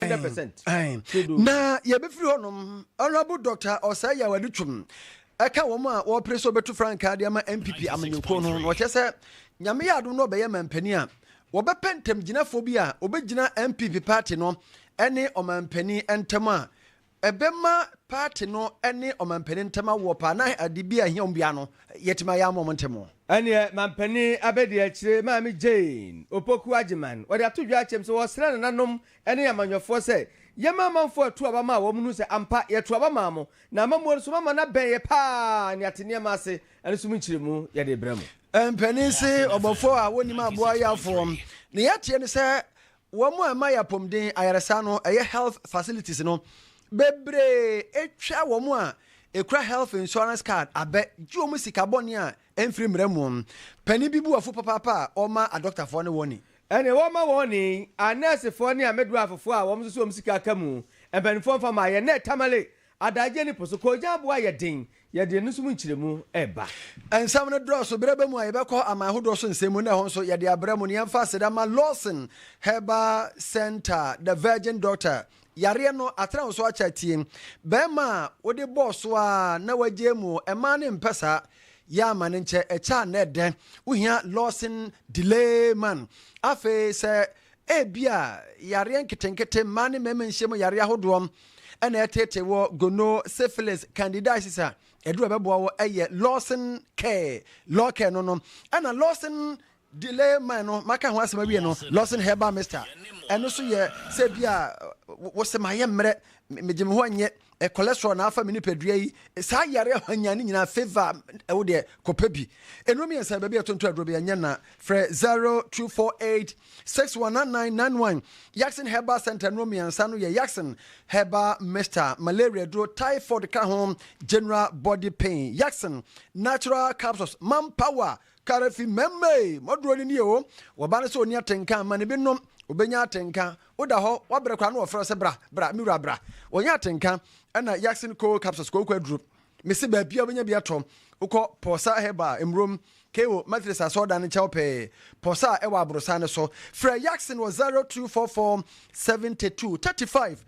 hundred percent. na yɛbɛfiri hɔ nom honorable doctor ɔsɛe yɛ wɔde twom ɛka wɔn a wɔpere sɛ wɔbɛtu frankaa de ama npp amanyɔkuo no na ɔkyɛ sɛ nyame yɛ adom no ɔbɛyɛ mampanin a wɔbɛpɛ ntamgyinafoɔ bi a wɔbɛgyina npp party no ɛne ɔmampanin ntam a Ɛbɛma paati no ne ɔmampanin ntam awoɔ paa na ade bi a ɛhia wɔn biara no, yɛatumi ayɛ ama wɔn ntɛm. Ɛnneɛ Mampanin Abadiakyire maame Jane Opoku Agyeman, wɔde ato dwa akyɛm sɛ wɔresrɛ nananom ne amanyɔfoɔ sɛ, Yɛmma amanfoɔ ɛto aba ma wɔn nhunu sɛ ampa yɛto aba maa mo, na amammuo nso moama no abɛn yɛ paa nneate nneɛma ase, ɛno nso mu nkyerɛmu yɛde rebrɛ mo. Mpanin se, Ɔbɔfoɔ a wɔnnim aboa yɛ afoɔ. Nea yɛteɛ ne sɛ Wɔn a ɛma yɛ apɔmuden, ayaresa no, ɛyɛ health facilities no, bebree etwa wɔn a ekura health insurance card abɛ gye wɔn sika bɔne a ɛmfiri mmara mu. Panin bi bu afu papaapa a ɔma adɔktafoɔ ne wɔn ni. Ɛnneɛ wɔmma wɔn ni, anɛɛsefoɔ ne amedoafofoɔ a wɔn nso so wɔn sika ka mu, mpanimfoɔ mfa mma yɛn. Nɛɛ Tamale Adagyeɛ ne po so koogyan aboa a yɛ den, yɛde ɛno nso mu nkyerɛmu reba. Nsɛm no dɔɔso, berɛ bɛ mu a yɛbɛkɔ aman ahodoɔ so nsɛm mu na ɛhɔ nso yɛde abrɛ mo na yɛmfa aseda mma Lawson Herbal Centre, The Virgin Doctor, yareɛ no atena wo so akyɛ atie, bɛɛma a wode bɔɔ so ara na wagyae mu ɛmaa no mpɛ saa, yɛ ama no nkyɛ ɛkyɛ a na ɛdɛ, wohia Lawson Delay Man, afei sɛ. Ebia yareɛ nketenkete, mmaa ne mmarima nhyiam yareɛ ahodoɔ, na ɛreteetee wɔ gono, syphilis, candidiasis a aduru a ɛbɛboa wɔ yɛ Lawson Care, Law Care no no, ɛna Lawson delay mine no maka ho asɛm awie no, Lawson Herbal Mixture, ɛno nso yɛ sɛ bi a wose mayɛ mmerɛ, megye me ho nyɛ Eh cholesterol na afa me nipadua yi. Saa yare ahwanyan ne nyinaa fever ɛwo deɛ kɔpɛ bi. Nnuro mmiɛnsa baabi a yɛtonto aduro bi ɛnyɛ na frɛ 0248 619991. Yaxin Herbal Center nnuro mmiɛnsa no yɛ Yaxin Herbal Mixture, malaria duro, typhoid ka ho, general body pain. Yaxin Natural Capsules, Manpower Kare fi mɛmma ei, mɔdorɔ ni nie o, wɔba no sɛ ɔni atenka mma no bi nom, ɔbɛnya atenka, woda hɔ, wabrɛ koraa na wɔfrɛ wo sɛ bra, bra, me wura bra, wɔnyɛ atenka, ɛna Yaxin Cold Capsules, kooko aduro, mese baabiara wobɛnya bi atɔ, wokɔ Pɔsa Herbal, Mmurom, KO Methodist Asɔrdan no nkyɛn hɔ pɛɛ, Pɔsa a ɛwɔ Aborosan no so, frɛ Yaxin wɔ 0244 72 35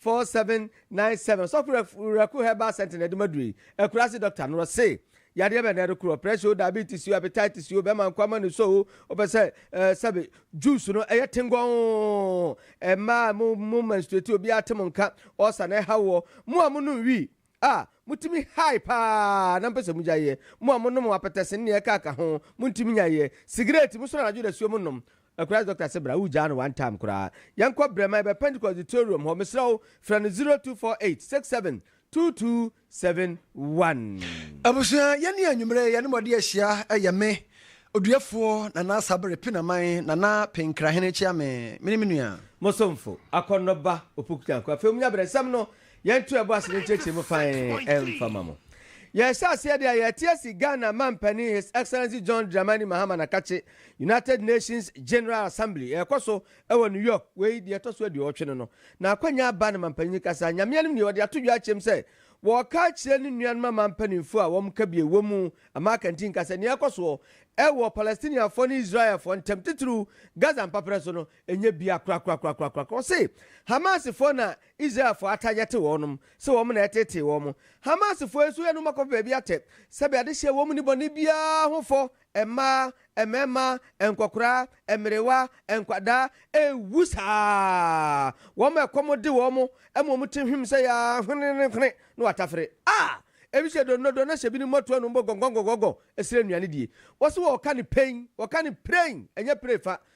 4797 Ɔsɔfo Rev Werɛko Herbal Sentinel de ma duru yi, Akurase Doctor no wɔ se, Yadeɛ bɛn na ɛde koro, pressure o, diabetes o, hepatitis o, bɛma nkoa ma ne sɔ o, wopɛ sɛ eh, sɛbe, juice no ɛyɛ tengɔɔn, mmaa mo mo menstruate obiara te mo nka, ulcer na ɛha woɔ, mo a monom wii, Ah, motumi high paa na mpɛ sɛ mogyae yɛ. Mo a monom apɛtɛse ne nea ɛkaaka ho, montumi nnyae yɛ. Sigaret, moso no anadwo dasuo mo nom. Akuraa doctor se bra, wogyaa no one time koraa. Yɛnkɔ Brɛma, yɛbɛ Pentecost Auditorium hɔ, mesrɛ wo, frɛ no 0248 67 2271. Abusua, yɛne anwummerɛ yɛne mo de ahyia yɛ me, Oduafoɔ Nana Sabere Pinaman, Nana Penkrahene Kyeame, me ne me nua. Mo somfo, Akɔnnɔba Opoku Nyankwe. Afei, monya brɛ, nsɛm no, Yɛnto yɛbo ase ne nkyerɛkyerɛ mu fann mfa ma mo. Yɛrehyɛ aseɛ deɛ a, yɛrete asi Ghana Mampanin His Excellency John Dramani Mahama Nakakye, United Nations General Assembly, a ɛkɔ so wɔ New York, wei deɛ ɛtɔ so aduɔwɔtwe no no, n'akwannya aba no mampanin kasa, Nyame anim nie, ɔde ato dwa akyerɛ mu sɛ wɔreka akyerɛ ne nuanom amanpaninfoɔ a wɔn kabie wɔ mu ama akanti nka sɛ nea ɛkɔ soɔ wɔ Palestinianfoɔ ne Israelfoɔ ntam titiriw Gaza mpaprɛ so no nyɛ bia korakorakorakorakora. Ɔse Hamasfoɔ na Israelfoɔ atagete wɔnom sɛ wɔn na ɛtetee wɔn. Hamasfoɔ nso yɛ no ma kɔpɛ baabi atɛ, sɛdeɛ ade hyɛɛ wɔn nnebɔne biara ho fɔ, mmaa, mmarima, nkɔkoraa, mmerewa, nkwadaa, ɛwu saa ara, wɔn ma ɛkɔm de wɔn ma wɔn ti hwim sɛ yaa hwenenenhwene na wɔatafere. A. Ebi hyɛ donnodo na hyɛ binom mmɔtoa nom bɔ gɔngɔngɔngɔngɔ srɛ nnuane die. Wɔse wɔɔka no pein, wɔka no prein, ɛnyɛ pree fa,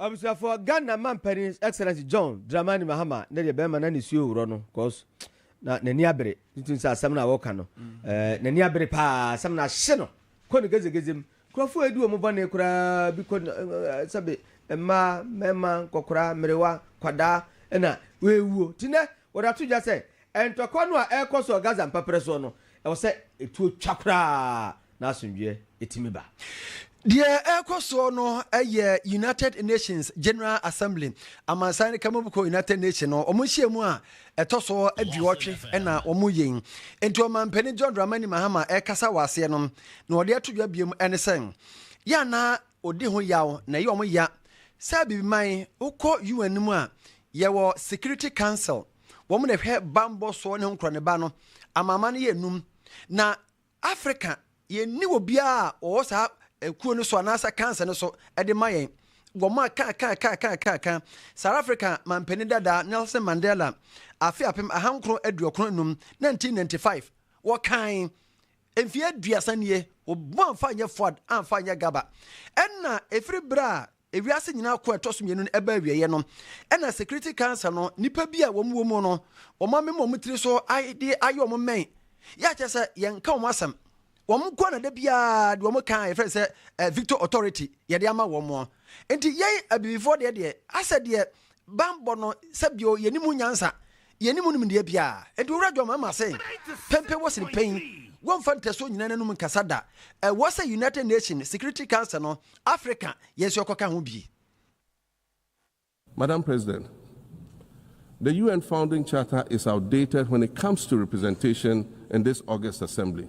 Abusuafoɔ Ghana mampanin His Excellency John Dramani Mahama ne deɛ bɛrima na nisuo worɔ no cos na nani abere nti sɛ asɛm no a wɔka no eh, nani abere paa asɛm no ahye no kɔ ne gezegeze mu nkurɔfoɔ edi wɔn bɔne koraa bi kɔ eh, eh, sɛbe mmaa mmarima nkɔkora mmerewa kwadaa ɛna wɔawuo ti nɛ wɔde ato dwa sɛ ntɔkwa no a ɛrekɔ so wɔ Gaza mpaprɛ soɔ no ɛwɔ sɛ etuo twa koraa na asomdwoeɛ tumi ba. Deɛ ɛrekɔ soɔ no yɛ United Nations General Assembly, amansan no kamubuko United Nations no, wɔn nhyiamu a ɛtɔ so aduɔtwe na wɔyɛ yi. Nti ɔmampanin John Dramani Mahama ɛrekasa wɔ aseɛ no, na ɔde ato dwa biom ne sɛ, yɛ a na ɔdi ho yaw na ɛyɛ wɔn ya sɛ abibiman wokɔ UN no mu a, yɛwɔ Security Council, wɔn na ɛhwɛ bammɔ soɔ ne ho nkorɔneba no, amanaman no yɛ nnum, na Africa, yɛnni obiara a ɔwɔ saa ɛkuo no so anaasɛ cancer no so ɛde ma yɛn. Wɔn a ka ka ka ka ka ka South Africa manpanin dadaa Nelson Mandela afe apem ahankron aduokron enum 1995 wɔkan mfie aduasa nie wɔbɔ amfa nyɛ Fuad amfa nyɛ Gaba ɛna ɛfiri berɛ a Ewiase nyinaa ko a ɛtɔ so mmienu no ɛbaa awieɛ no, ɛna Security Council no nnipa bi a wɔn wɔ mu no, wɔn amema wɔn tiri so de ayɛ wɔn mmɛn, yɛ a kyerɛ sɛ yɛnka wɔn asɛm. Wɔn nko ara na da biara deɛ wɔn ka a yɛfrɛ no sɛ eh, Victor Authority yɛde ama wɔn. Nti yɛn abibifoɔ deɛ deɛ asɛ deɛ Bammɔ no sɛ bio yɛnni mu nyansa, yɛnni mu nimdeɛ biara. Enti Owura John Mahama se, Pɛmpɛ wɔ sene panyin, wɔmfa ntasuo nyina n'anom nkasa da. Ɛwɔ sɛ United Nations Security Council no, Afrika, yɛn nso yɛkɔka ho bi. Madam President, the UN Founding Charter is outdated when it comes to representation in this august assembly.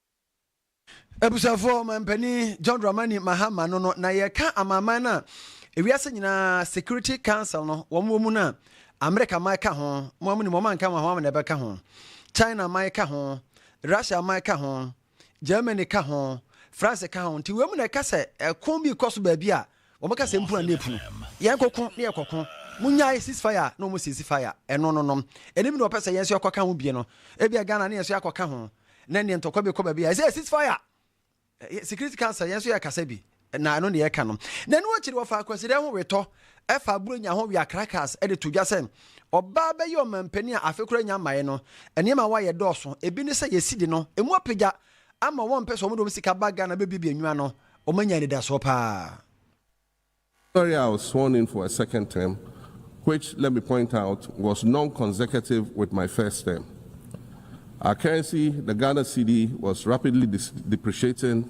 Abusuafoɔ, ɔmanpanin John Dramani Mahama no no, na yɛreka amanaman no a ewiase nyinaa Security Council no wɔn wɔ mu no a, Amerika man ka ho, mo a monim wɔn anka wɔn ho ama na ɛbɛka ho, China man ka ho, Russia man ka ho, Germany ka ho, France ka ho, nti wei mu na ɛka sɛ ɛko bi rekɔ so baabi a, Wɔbɛka sɛ mpuran ne ɛpunu. Yɛn koko ne yɛ koko. Monyae cease fire a na wɔn cease fire. Ɛno no nom. Ɛnim na wɔpɛ sɛ yɛn nso yɛkɔ ka ho bie no. Ebia Ghana ne yɛn nso yɛakɔ ka ho. Na neɛ ntɔkwa bi kɔ baabi a yɛsɛ cease fire. Security council yɛn nso yɛ kasa bi. Na ɛno ne yɛka no. Na ɛno akyiri wɔfaa Kwasida ho wetɔ ɛfaa Buronya ho wea krakas ɛde to dwa sɛ ɔbaa bɛyɛ ɔmanpanin a afe koro anya mmaeɛ no. Nneɛma a wɔayɛ dɔɔso. Ebi ne sɛ yɛsidi no ɛmu apagya. Ama wɔmpɛ sɛ wɔde wɔn sika ba Ghana bɛbuebue nnwa no, wɔanya anidasoɔ pa ara. Sorry I was sworn in for a second term which let me point out was non consecutive with my first term. Our currency, the Ghana cedi was rapidly depreciating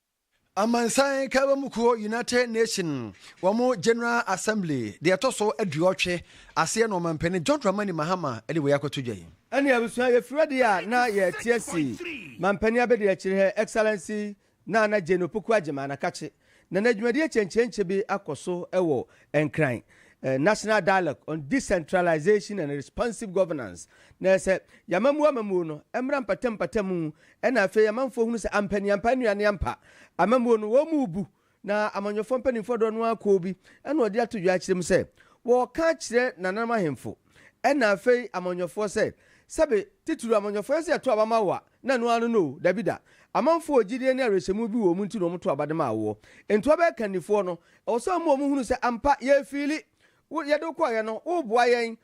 Amansan Nkabom Kuo, United Nation, wɔn General Assembly, deɛ ɛtɔ so aduɔtwe, aseɛ na Ɔmampanin John Dramani Mahama de wei akɔto dwa yi. Ɛne abusua, yɛfiri adeɛ a na yɛte asi Mampanin Abadiakyire Her Excellency Nana Jane Opoku Agyemang Anakakye, na n'adwumadie kyenkyenkye bi akɔ so wɔ Nkran, National Dialogue on Decentralization and Responsive Governance, na ɛsɛ yɛn amammuo amammuo no mmra mpatamu mpatamu Ɛna afei amanfoɔ hunu sɛ ampa ni ampa nua ne ampa amammuo no wɔn mu rebu na amanyɔfoɔ mpaninfoɔ doɔ no ara kɔɔ bi ɛna ɔde ato dwa akyerɛ mu sɛ wɔreka akyerɛ nananom ahemfo ɛna afei amanyɔfoɔ sɛ sɛbe titiriw amanyɔfoɔ yɛn sɛ yɛto aba ma wo a na ɛno ara no no o dabi da amanfoɔ wɔ gyidie ne awerɛhyɛmu bi wɔ wɔn mu nti na wɔn to aba de maa woɔ enti wɔbɛyɛ kannifoɔ no ɛwɔ sɛ wɔn ma wɔn hunu sɛ ampa yɛrefiili wo yɛde wo kɔeɛ no woreboa yɛn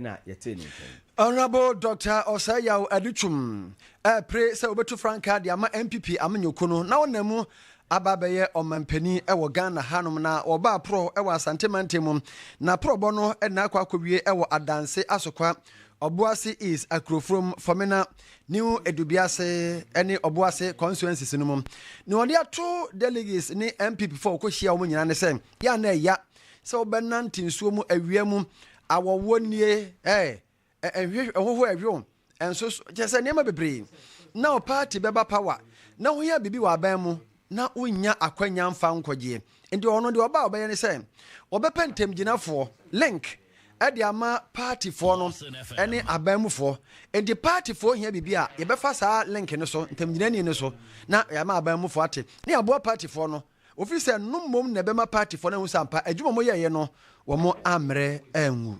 na yɛtee ne nka yi. Honourable Doctor Osei Yaw Adutwum ɛrepre sɛ ɔbɛtu frankaa de ama NPP amanyɔkuo no na ɔnam mu aba abɛyɛ ɔmanpanin wɔ Ghana hanom na ɔbaa Prɔ wɔ Asante mantam mu na Prɔbɔ no na akɔ akɔwie wɔ Adanse Asokwa, Ɔboase East, Akurofurom, Fɔmena, New Edubiase ne Ɔboase constituencies no mu. Nea ɔde ato delegates ne NPPfoɔ a wɔkɔhyia wɔn nyinaa ne sɛ, yɛ a na ɛya. Sɛ wobɛnante nsuo mu awia mu, awɔwoɔ nnie, eh, ɛnhwe, ɛhoho ɛhwew, ɛnso so, kyerɛ sɛ nneɛma bebree. Na wo party bɛba power, na wohia biribi wɔ aban mu, na wonnya akwanya mfa nkɔgyeɛ. Nti ɔno deɛ ɔba a ɔbɛyɛ ne sɛ, ɔbɛpɛ ntamgyinafoɔ, link, ɛde ama partyfoɔ no ɛne aban mufoɔ. Nti partyfoɔ hia biribi a, yɛbɛfa saa link no so, ntamgyinani no so, na yɛama aban mufoɔ ate, na yɛaboa partyfoɔ no Ofi sɛ no mmom na ɛbɛma party fɔ no ahu sɛ ampa adwuma ɔmo yɛeɛ no wɔmo ammrɛ angu.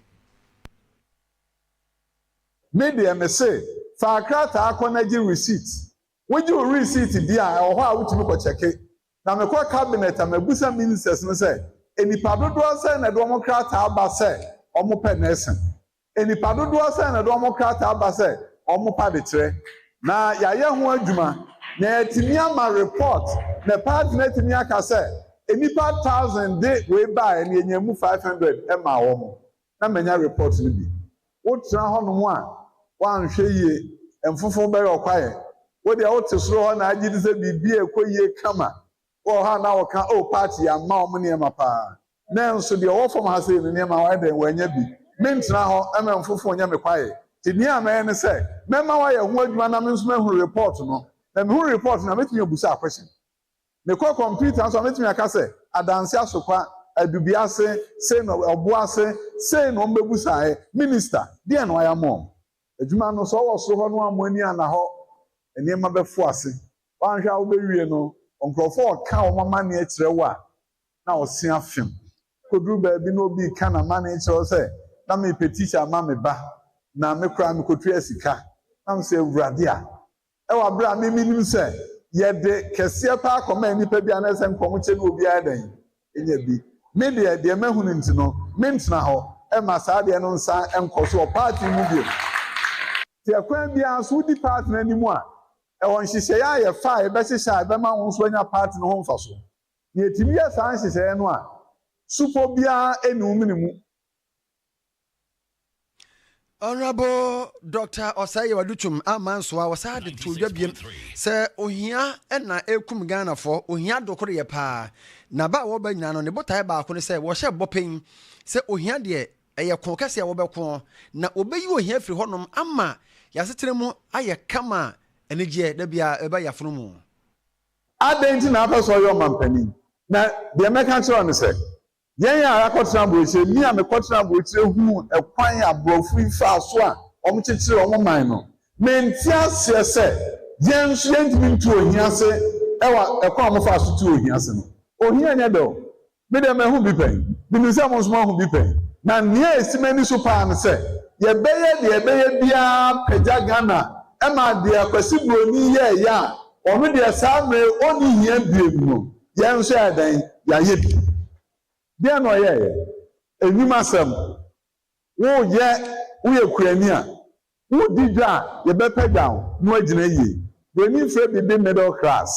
Me deɛ me se faa krataa kɔ na gye receipt, wo gye wo receipt die a ɛwɔ hɔ a wo tumi kɔ kyɛke. Na me kɔ cabinet a mabisa ministers no sɛ nnipa dodoɔ sɛn na ɛde wɔn krataa ba sɛ wɔn pɛ nursing. Nnipa dodoɔ sɛn na ɛde wɔn krataa ba sɛ wɔn pa de kyerɛ? Na yɛayɛ ho adwuma na yɛatumi ama report na party no atumi aka sɛ nnipa thousand de wei baeɛ na yɛnyaa mu five hundred maa wɔn na manya report no bi. Wotena hɔnom a woanhwɛ yie mfofo bɛyɛ wo kwaeɛ. Wo deɛ wote soro hɔ na agye di sɛ biribiara rekɔ yie kama. Wowɔ hɔ a na woka oh party yɛamma wɔn nneɛma paa. Nanso deɛ ɔwɔ fam ha sei no, nneɛma wayɛ dɛn? Wannya bi. Mentena hɔ mma mfoforo nyɛ me kwaeɛ. Nti deɛ mɛyɛ ne sɛ, mɛma wayɛ ho adwuma na me nso mahunu report no. Na mehunu report no a, mɛtumi abusa a question. Mekɔ kɔmputa so a, mɛtumi aka sɛ, Adanse Asokwa, Adubiase, sei na Ɔboase, sei na wɔbɛbusaeɛ. Minister, deɛn na wayɛ ama wɔn? Adwuma no, sɛ ɔwɔ soro hɔ no a, mo ani anna hɔ. Nneɛma bɛfo ase. Woanhwɛ a wobɛwie no, nkurɔfoɔ reka wɔn amanneɛ kyerɛ wo a, na ɔse afem. Koduru baabi na obi reka n'amanee kyerɛ wo sɛ, na merepɛ tikya ama me ba, na me koraa mekotuaa sika. Na mese, Awurade a, ɛwɔ bere a me menim sɛ yɛde kɛseɛ paa kɔmaa nnipa bi a na ɛsɛ nka wɔkyɛ no obiara dɛn? Ɛnya bi. Me deɛ, deɛ mahu no nti no, mentena hɔ mma saa adeɛ no nsan nkɔ so wɔ party mu bio. Nti ɛkwan biara so wodi party no anim a, ɛwɔ nhyehyɛeɛ a yɛfa a yɛbɛhyehyɛ a ɛbɛma wo nso woanya party no ho mfasoɔ. Na yɛtumi yɛ saa nhyehyɛeɛ no a, supɔ biara nni wo mene mu. Honourable Doctor Osayi Odutum amma nsoa, wɔsaa de too dwa biam sɛ ohia na ɛrekum Ghanafoɔ, ohia dokoreyɛ paa. Na ba a wɔba nyinaa no, ne botaeɛ baako ne sɛ wɔhyɛ bɔ panyin sɛ ohia deɛ ɛyɛ ko kɛseɛ a wɔbɛko na wɔbɛyi ohia afiri hɔnom ama yɛasetena mu ayɛ kama a anigyeɛ da biara ɛba yɛafono mu. Adɛn nti na wapɛ sɛ ɔyɛ ɔmampanin? Na deɛ mɛka akyerɛ wo ne sɛ, yɛn a yɛakɔtena aburokyire, me a mekɔtenaa aburokyire huu ɛkwan a Borɔfo yi faa so a wɔkyekyeree wɔn man no, mente aseɛ sɛ yɛn nso yɛntumi ntu ohia ase wɔ ɛkwan a wɔfaa so tuu ohia ase no. Ohia nyɛ dɛ o, Me deɛ mahu bi pɛn. Menim sɛ mo nso moahu bi pɛn. Na nea ɛsi m'ani so paa ne sɛ yɛbɛyɛ deɛ yɛbɛyɛ biara apagya Ghana ma deɛ Kwasi Broni yɛeɛ a ɔno deɛ saa mmerɛ yi ɔnni hia biem no, yɛn nso yɛayɛ dɛn? Yɛayɛ bi. Deɛn na ɔyɛeɛ? Nnwuma sɛm. Woyɛ woyɛ kuani a, wodi dwa a yɛbɛpagyaw wo no agyina yiye. W'ani mfrɛ biribi middle class,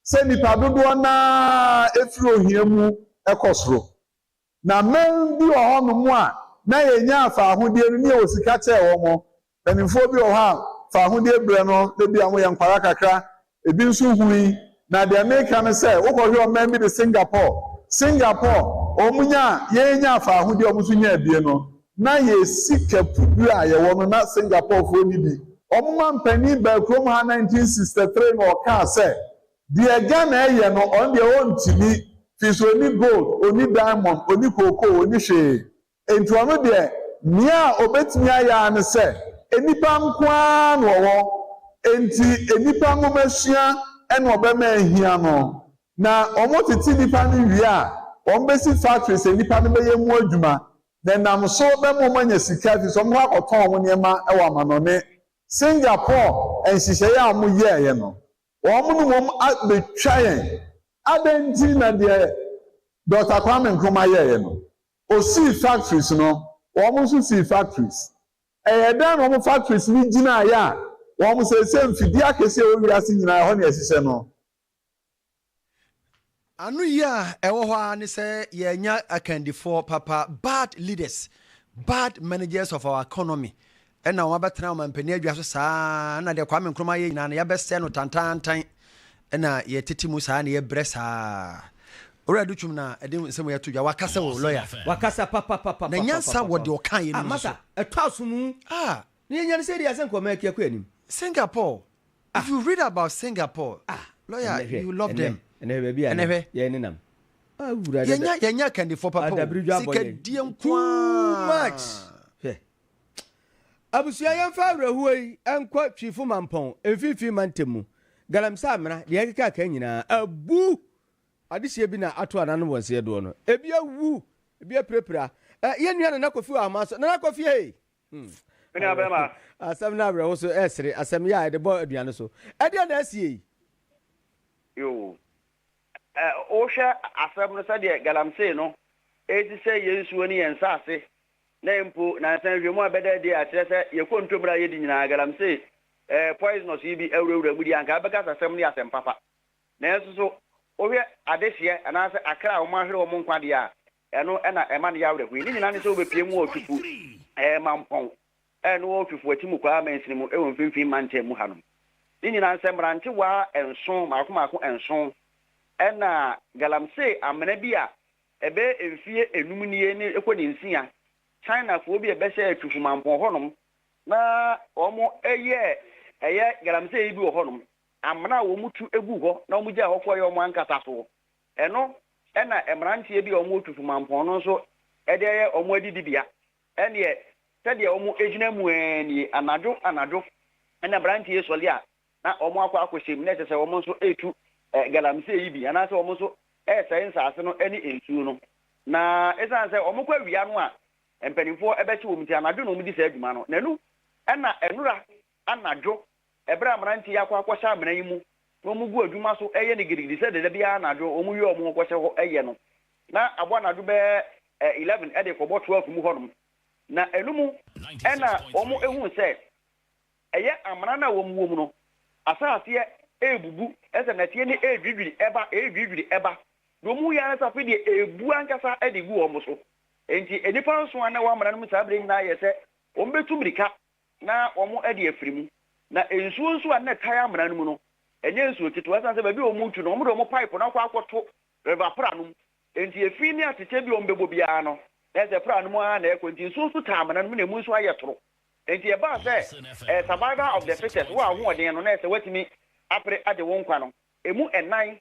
sɛ nnipa dodoɔ no ara firi ohia mu kɔ soro. Na mma bi wɔ hɔnom a na yɛnya afaahodeɛ no ne yɛwɔ sika kyɛɛ wɔn, Mpanimfoɔ bi wɔ hɔ a fawohodie berɛ no na ebia wɔyɛ nkwadaa kakra, ebi nso hui. Na deɛ mereka ne sɛ, wokɔhwɛ ɔman bi te Singapore, Singapore, wɔn nya a yɛn nyaa fawohodie a wɔn nso nyaa bie no, na yɛn sika puduro a yɛwɔ no na Singaporefoɔ nni bi. Wɔn mampanin baa kurom ha nineteen sixty three na ɔkaa sɛ, deɛ Ghana ɛyɛ no ɔno deɛ ɔntumi, firi sɛ ɔnni gold, ɔnni diamond, ɔnni cocoa, ɔnni hwee. Enti ɔno deɛ, nea ɔbɛtumi ayɛ ara ne sɛ nnipa nko ara na ɔwɔ, enti nnipa nwomasua na ɔbɛma ahia no, na wɔtete nnipa no wie a, wɔbɛsi factories a nnipa no bɛyɛ mu adwuma, na ɛnam so bɛma wɔanya sika ɛfiri sɛ wɔbɛkɔ akɔtɔn wɔn nneɛma wɔ amanɔne. Singapore nhyehyɛeɛ a wɔyɛeɛ no, wɔn ne wɔn abɛtwa yɛn. Adɛn nti na deɛ Dɔkta Kwame Nkrumah yɛeɛ no, Osii factories no, wɔn nso sii factories. Ɛyɛɛ dɛn na wɔn factories no gyinaeɛ a wɔn seesei mfidie akɛseɛ a ɛwɔ wiase nyinaa ɛhɔ na yɛhyehyɛ no? Anoyie a ɛwɔ hɔ ara ne sɛ yɛanya akandifoɔ papa, bad leaders, bad managers of our economy, Ɛna wɔabɛtena ɔmampanin adwa so saa ara na deɛ Kwame Nkrumah ayɛ nyinaa no yɛabɛsɛe no tantaantan ɛna yɛtete mu saa na yɛbrɛ saa. Owura Adu Twum na ɛde nsɛm wei ato dwa. Wakasa o, lɔya. Wakasa papapapapapa. Na nyansa wɔ deɛ ɔkaeɛ no mu nso so. Ah Masa, ɛtɔ asom u. Ah. Na yɛnya no sɛ deɛ sɛ nka ɔman akyi akɔ anim. Singapore, if you read about Singapore, ah, lɔya, you love them. Ɛnɛ hwɛ baabi a yɛn nenam. Ah, wura dada. Yɛnya, yɛnya akandifoɔ papa o. Sikadie nko ara. Too much. Abusua yɛmfa awerɛhoɔ yi nkɔ Twifo Mampɔn mfimfini mantam mu. Galamsey amena, deɛ ɛkeka akaa nyinaa abu. Adehyeɛ bi na ato ananom wɔ nseɛ doɔ no. Ebi awu, ebi apirapira. Eh, yɛn nua Nana Kofi wɔ Ahomaa so. Nana Kofi ei! Hmm. Me nua bɛrima. Asɛm no awerɛho so ɛresere, asɛm yɛ a ɛde bɔ aduane so. Ɛdeɛ na asie yi? Yoo. Eh, wohwɛ asɛm no sɛdeɛ Galamsey no ɛresi sɛ yɛn nsuo ne yɛn nsaase Na mpo nansa nhwɛmu a ɛbɛda adi a ɛkyerɛ sɛ yɛn kontomire a yɛadi nyinaa, galamsey, ɛɛ, poisonous yi bi awurawura mu deɛ, anka abɛkasasɛm no yɛ asɛm papa. Nanso nso, wohwɛ adehyeɛ anaasɛ akra a wɔahwere wɔn nkwa deɛ a, ɛno na ɛma no yɛ awerɛhoɔ yi. Ne nyinaa ne sɛ wobɛpue mu wɔ Otufu, ɛɛ, mampɔn, ɛɛ, no wɔ Otufu Atimu Kwaa mansini mu wɔ mfimfini mantam mu hanom. Ne nyinaa ne sɛ mmerantewaa nson, mmaako mmaako nson, ɛna galamsey amena bi a Ɛbɛyɛ mfeɛ nnum nie ne ɛkɔ ne nsia, Chinafoɔ bi a bɛhyɛɛ Chufumampong hɔnom na wɔn yɛɛ ɛyɛ galamsey bi wɔ hɔnom, amena a wɔn tu guu hɔ na wɔn gyae hɔ kɔeɛ wɔn ankasa soɔ. Ɛno na mmeranteɛ bi a wɔn wɔ Chufumampong no nso de ayɛ wɔn adidibea. Ɛnneɛ sɛdeɛ wɔn gyina mu ara nie, anadwo anadwo na mmeranteɛ yi sɔre a na wɔakɔ akɔhyɛ mu, na ɛsɛ sɛ wɔn nso tu galamsey yi bi, anaasɛ wɔn nso sɛe nsase no ne nsuo no. Na ɛsiane sɛ wɔkɔ awia no a mpanimfoɔ bɛhye wɔn nti, anadwo na wɔdi saa dwuma no. Na ɛno na nnora anadwo, berɛ a mmeranteɛ yi akɔ akɔhyɛ amena yi mu, na wɔgu adwuma so yɛ no gidigidi sɛdeɛ da biara anadwo wɔwie a wɔkɔhyɛ hɔ yɛ no. Na abɔ anadwo bɛyɛ eleven de rekɔbɔ twelve mu hɔnom, na ɛno mu na wɔhuu sɛ Ɛyɛ amena no a wɔn wom no, asaaseɛ ɛrebubu, ɛsɛ nɛteɛ no ɛredwidwiri ɛba, ɛredwidwiri ɛba, na wɔn hu yɛ ara sɛ afei deɛ ɛrebu ankasa de regu wɔn so. Enti nnipa nson a na ɛwɔ amena no mu saa berɛ nyinaa yɛɛ sɛ wɔbɛtu mmirika na wɔde afiri mu. Na nsuo nso a na ɛtae amena no mu no, ɛnyɛ nsuo ketewa, ɛsiane sɛ baabi a wɔretu no, wɔde wɔn pipe no akɔ akɔto river pra no mu, enti efi ne atɛkyɛ bi a wɔbɛbɔ biara no, na ɛsɛ pra no mu ara na ɛrekɔ, enti nsuo nso taa amena no mu na ɛmu nso ayɛ toro. Enti ɛbaa sɛ ɛyɛ survival of the fittest, wo a w'ahoɔden no na ɛsɛ sɛ woatumi apere agye wo nkwa no, ɛmu nnan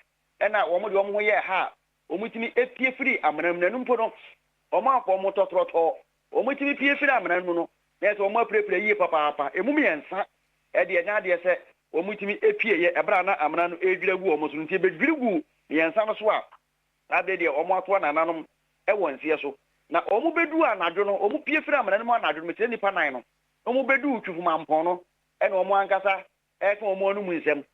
na wɔn de wɔn ho yɛɛ ha a wɔtumi pue firii amena mu, na ɛno mpo no wɔn a wɔn tɔ trɔtrɔ, wɔtumi pue firii amena no mu no, na ɛsɛ sɛ wɔn apirapira yie papaapa, ɛmu mmiɛnsa deɛ ɛnyɛ adeɛ sɛ wɔtumi pueeɛ ɛberɛ a na amena no redwiri agu wɔn so no, nti ɛbɛdwiri guu mmiɛnsa no so a Saa berɛ deɛ wɔatoa nananom wɔ nseɛ so, na wɔbɛduu anadwo no, wɔpue firii amena no mu anadwo no, mekyerɛ nnipa nan no, na wɔbɛduu Twufumampɔn no, ɛna wɔn ankasa reka wɔn anom nsɛm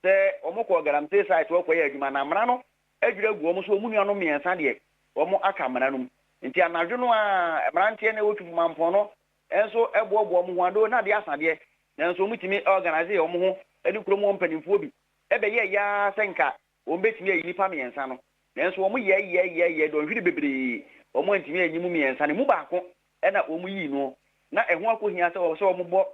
sɛ wɔkɔɔ Galamsey site hɔ rekɔyɛ adwuma, na amena no adwiri agu wɔn so, wɔn nuanom mmiɛnsa deɛ, wɔaka amena no mu. Nti anadwo no ara, mmeranteɛ no a ɛwɔ Twufumampɔn no nso boaboa wɔn ho ano, na adeɛ asa deɛ, nanso wɔtumi organisee wɔn ho ne kurom hɔ mpanimfoɔ bi bɛyɛɛ yɛ ara sɛ nka Wɔbɛtumi ayi nnipa mmiɛnsa no, nanso wɔyɛɛyɛɛyɛɛyɛɛ dɔnhwere bebree, wɔantumi anyi mu mmiɛnsa no, ɛmu baako na wɔyii no, na ɛho akɔhia sɛ wɔsɛ wɔbɔ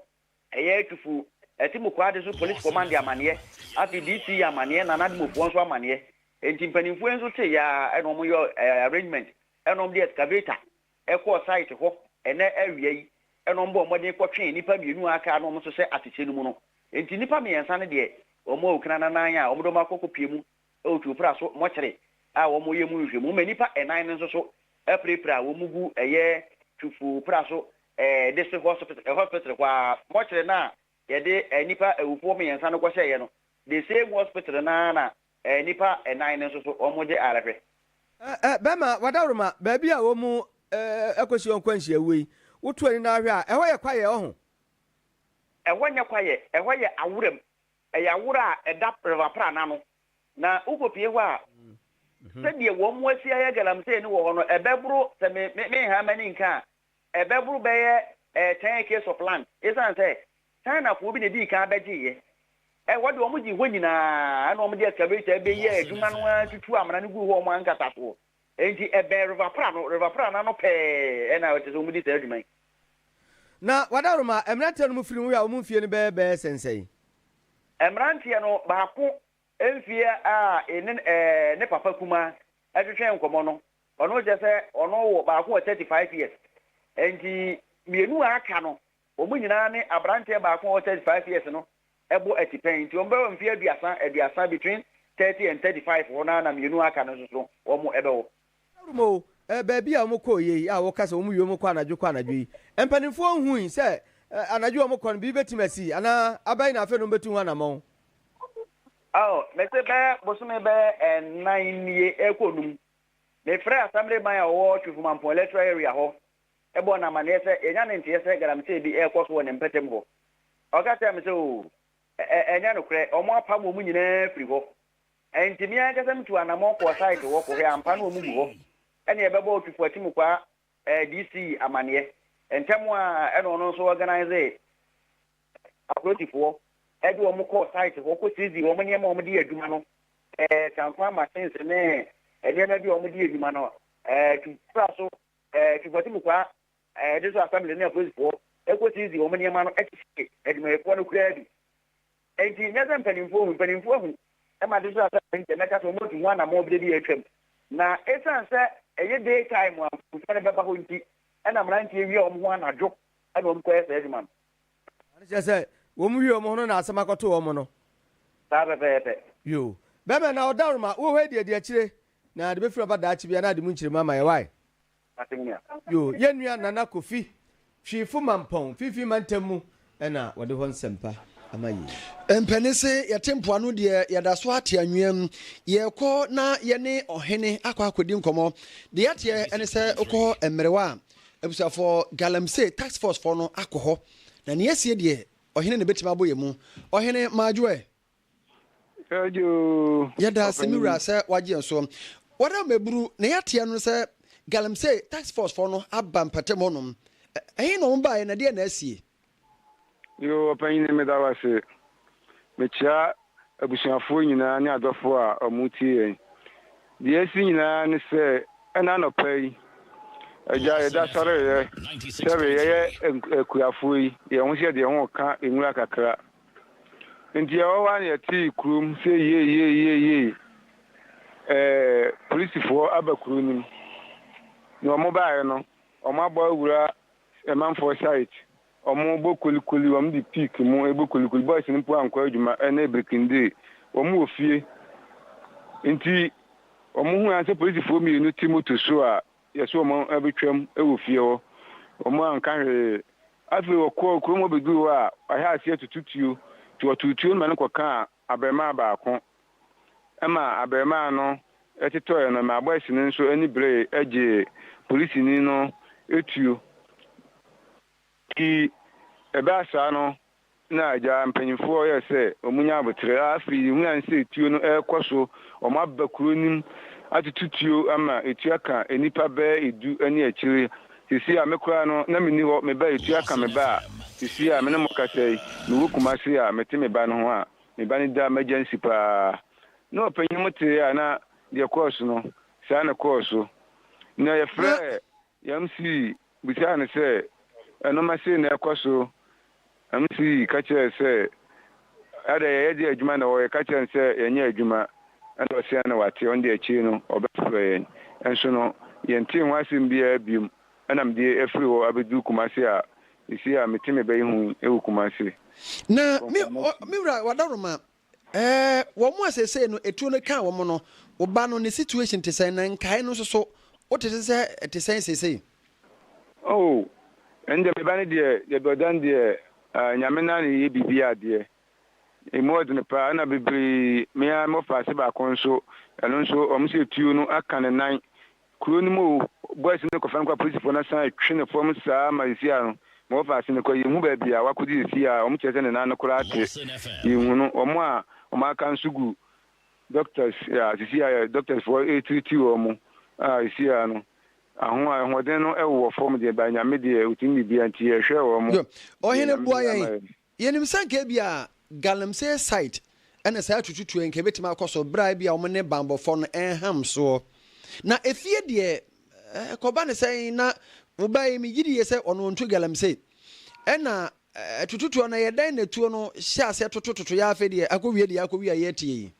ɛyɛ atufo, ɛte Mukoade so Police Command amanneɛ, afei DC yɛ amanneɛ, Nana Ado Mofoɔ nso amanneɛ, enti mpaninfoɔ yi nso teeɛ ara na wɔyɛɛ arrangement na wɔde excavator kɔɔ site hɔ ɛnnɛ awia yi na wɔbɔɔ mmɔden kɔtwee nnipa mmienu a aka a na wɔn nso hyɛ atɛkyɛ no mu no. Enti nnipa mmiɛnsa no deɛ, wɔn awu kranannan a wɔde wɔn akɔ akɔpue mu wɔ tuopra so mɔkyere a wɔyɛ mu nhwehwɛmu, ɛma nnipa nnan no nso so apirapira a wɔn gu ɛyɛ tuopra so district hospital hospital hɔ ara. Mɔkyere no a yɛde nnipa awufoɔ mmiɛnsa no kɔhyɛeɛ no, the same hospital no ara na Ɛ, nnipa nnan no nso so, wɔn gye ara hwɛ. Ɛ, ɛ, bɛma wɔadaworoma baabi a wɔn, ɛ, akosi wɔn nkwanhyia wuo yi. Woto ani na hwɛ a, ɛhɔ yɛ kwaeɛ, ɔho. Ɛhɔ nyɛ kwaeɛ, ɛhɔ yɛ aworam. Ɛyɛ awora a ɛda River Pra no ano. Na wokɔpie hɔ a, sɛdeɛ wɔn asi ayɛ galamsee no wɔ hɔ no, ɛbɛboro, sɛ me, me, menha m'ani nka a, ɛbɛboro bɛyɛ ten acres of land esiane sɛ Chinafoɔ bi na edii kan bɛgyeeɛ. Ɛ, wɔde wɔn gyee hɔ nyinaa, ɛna wɔde excavator bɛyɛɛ adwuma no ara tutuu amena no guu hɔ wɔn ankasa soɔ. Enti ɛbɛn River Pra no, River Pra no ano pɛɛ ɛna ɛte sɛ wɔdi saa adwuma yi. Na w'adaworoma a mmeranteɛ no mo firi ho yɛ a wɔn mfie no bɛyɛ bɛɛ sɛn sɛn? Mmeranteɛ no baako mfeɛ a ene ɛɛ ne papa kumaa twetwee nkɔmmɔ no, Ɔno kyerɛ sɛ ɔno wɔ baako wɔ thirty five years nti mmienu a aka no wɔn nyinaa ne abranteɛ baako a ɔwɔ thirty five years no bɔ atipɛn nti wɔn bɛwɔ mfeɛ aduasa aduasa between thirty and thirty five hɔ no ara na mmienu a aka no nso so wɔn bɛwɔ. Ɛrum o, ɛɛ baabi a wɔn kɔeɛ yi a wɔka sɛ wɔn wie wɔn kɔ anadwo kɔ anadwo yi, mpaninfoɔ nhui sɛ anadwo a wɔn kɔ no biribi bɛtumi asi anaa abɛn na afei na wɔn bɛtu ho anamɔn? Oh, mese bɛyɛ bosome bɛyɛ nnan nie ɛkɔ num. Mefrɛɛ Asamble man a wɔwɔ Twifo-Mampong Electoral Area hɔ bɔɔ no amanneɛ sɛ yɛanya ne nteɛ sɛ galamsey bi rekɔ so wɔ ne mpɛtam hɔ. Ɔka kyerɛɛ me sɛ, Oo, ɛ-ɛ, ɛnyɛ nokorɛ, wɔapam wɔn nyinaa afiri hɔ. Enti me ankasa mituu anammɔn kɔɔ site hɔ kɔhwɛɛ ampa na wɔgu hɔ. Ɛnna yɛbɛbɔɔ Twifo Akyimukwa, eh, DC amanneɛ. Ntɛm ara na ɔno nso organisee apolisifoɔ de wɔn kɔɔ site hɔ kɔ siizii wɔn nneɛma a wɔde yɛ adwuma no, ɛɛ sankwan machines ne nneɛma bi a wɔde yɛ adwuma no, ɛɛ tu kura so, ɛɛ tu fɔte mu kwa, ɛɛ de so assembly ne apolisifoɔ kɔ siizii wɔn nneɛma no kyekye adwumayɛfoɔ no koraa bi. Enti nyɛ sɛ mpanimfoɔ hu, mpanimfoɔ ahu ma de so assembly nti ɛmɛka sɛ wɔatu ho anammɔn bi de de atwam. Na esiane sɛ ɛyɛ day time a mpanimfoɔ no bɛba hɔ nti, ɛna mmeranteɛ wia wɔn ho anadwo na wɔkɔyɛ saa adwuma no. Ɛno kyerɛ sɛ wɔn wie wɔn ho no na asɛm akɔto wɔn no. Saa pɛpɛɛpɛ. Yoo. Bɛɛma na ɔdawroma wɔ hɔ adi adi akyire na ade bɛfiri aba daakye bia na ade mu nkyeremu ama yɛ wae. Asɛm ni a. Yoo. Yɛn nua Nana Kofi Twifo Mampɔn Finfin Mantam mu na wɔde hɔ nsɛmpa ama yei. Mpanisi yɛte mpoano deɛ yɛda so ara te anwea mu. Yɛrekɔ na yɛne ɔhene akɔ akɔdi nkɔmmɔ. Deɛ yɛateɛ ne sɛ wokɔ mmerewa a, Abusuafoɔ, Galamsey task force foɔ no akɔ hɔ, na nea asie deɛ, ɔhene na ɛbɛtumi abɔ yɛn mu. Ɔhene, Madwo ɛ? Madwo, ɔpanin. Yɛda ase, me wura, sɛ woagye yɛn so. Wada wo mmaburu, nea yɛateɛ no sɛ Galamsey task force foɔ no aba mpɔtam hɔnom. Ɛhe na wɔbaeɛ, na ɛdeɛn na asie? Yoo ɔpanyin meda wo ase. Mekyia abusuafoɔ nyinaa ne adɔfoɔ a wɔretie yɛn. Deɛ asi nyinaa ne sɛ ɛna anɔpa yi Agya yɛda sɔreeɛ sɛbe yɛyɛ akuafoɔ yi yɛn ho sɛ deɛ ho reka nwura kakra nti yɛwɔ hɔ ara na yɛtee kurom sɛ yeeyeeyeeyee ɛɛ polisifoɔ aba kuro no mu. Na wɔn baeɛ no wɔabɔ awura Amanfoɔ site wɔn bɔ kolikoli wɔn de pick mu bɔ kolikoli boys no mpo ankɔ adwuma ɛnɛ brikindee wɔn wɔ fie nti wɔn hu ansɛ polisifoɔ mmienu te moto so a yɛso wɔn abɛtwam wɔ fie hɔ wɔn anka hwee afei wɔkɔɔ kurom hɔ bɛduru hɔ a wɔahɛ aseɛ tutu tuo nti wɔtoo tuo no ma no kɔkaa abarimaa baako ɛma abarimaa no tetɔe no ma bɔs no nso ani beree gyee polisini no tuo. Nti ɛbaa saa no na agya mpanyimfoɔ yɛɛ sɛ wɔnya aboterɛ. Afei yɛhunu ansa sɛ tuo no rekɔ so, wɔaba kuro no mu atutu tuo ama ɛtuo aka nnipa bɛyɛ du ne akyire. Seesei a me koraa no na menni hɔ, me ba a ɛtuo aka me ba a seesei a me ne mo rekasa yi mewɔ Kumasi a mete me ba no ho a, me ba no daa m'agya nsi paa. Na ɔpanyin mo tee a na deɛ ɛkɔɔ so no, saa na ɛkɔɔ so. Na yɛfrɛɛ Yamsee bisaa no sɛ, Nnoɔma sei na ɛrekɔ so? Yamsee ka kyerɛɛ sɛ, Adɛn, yɛyɛ deɛ adwuma na ɛwɔ hɔ, yɛka kyerɛɛ no sɛ yɛnyɛ adwuma, ɛna ɔse ɛne wate, ɔno deɛ akyire no ɔbɛfrɛ yɛn. Nso no, yɛntee ho asɛm biara biom, ɛna mede afiri hɔ abɛduru Kumasi a Ese a mete me ba yi ho yi ewo Kumase. Na me me wura Wadaroma eh wɔn a seesei no etuo no kaa wɔn no wo ba no ne situation te sɛn na nkae no nso so wote se sɛ ɛte sɛn seesei? Oh ɛne deɛ me ba no deɛ yɛdɔ dan deɛ ah Nyame naa na eyɛ biribi adeɛ emu ɔdene paa ɛna bebree me ara mewɔ faase baako nso ɛno nso wɔn se etuo no aka ne nan Kuro no mu o, boys no kɔfa no kɔ apolisifo no san twe no fam saa ma nsu ano ma wɔfa ase no kɔ, yɛnhu baabi a wakɔgye no fii a wɔn kyerɛ sɛ ne nan no koraa tere, yɛnhu no, wɔn a wɔn aka nso gu doctors a sisi a doctors foɔ retiriti wɔn a sisi a no aho ahoɔden no wɔ fam deɛ by Nyame deɛ ɔtumi biribiara nti yɛhwɛ wɔn. Ɔhene boa yɛn Yenim sɛ anka ebia galamsey site ne saa atututuo yi anka ebetumi akɔ so bere a ebia wɔn ne banbɔfɔ no nham soɔ. Na efie deɛ ɛkɔba ne sɛn na wo ba yi megye die sɛ ɔno ɔntu galamsey. Ɛna atututuo no ɛyɛ dɛn na tuo no hyɛ aseɛ totototoeɛ ara afei deɛ akɔwie deɛ akɔwie a yɛretie yi.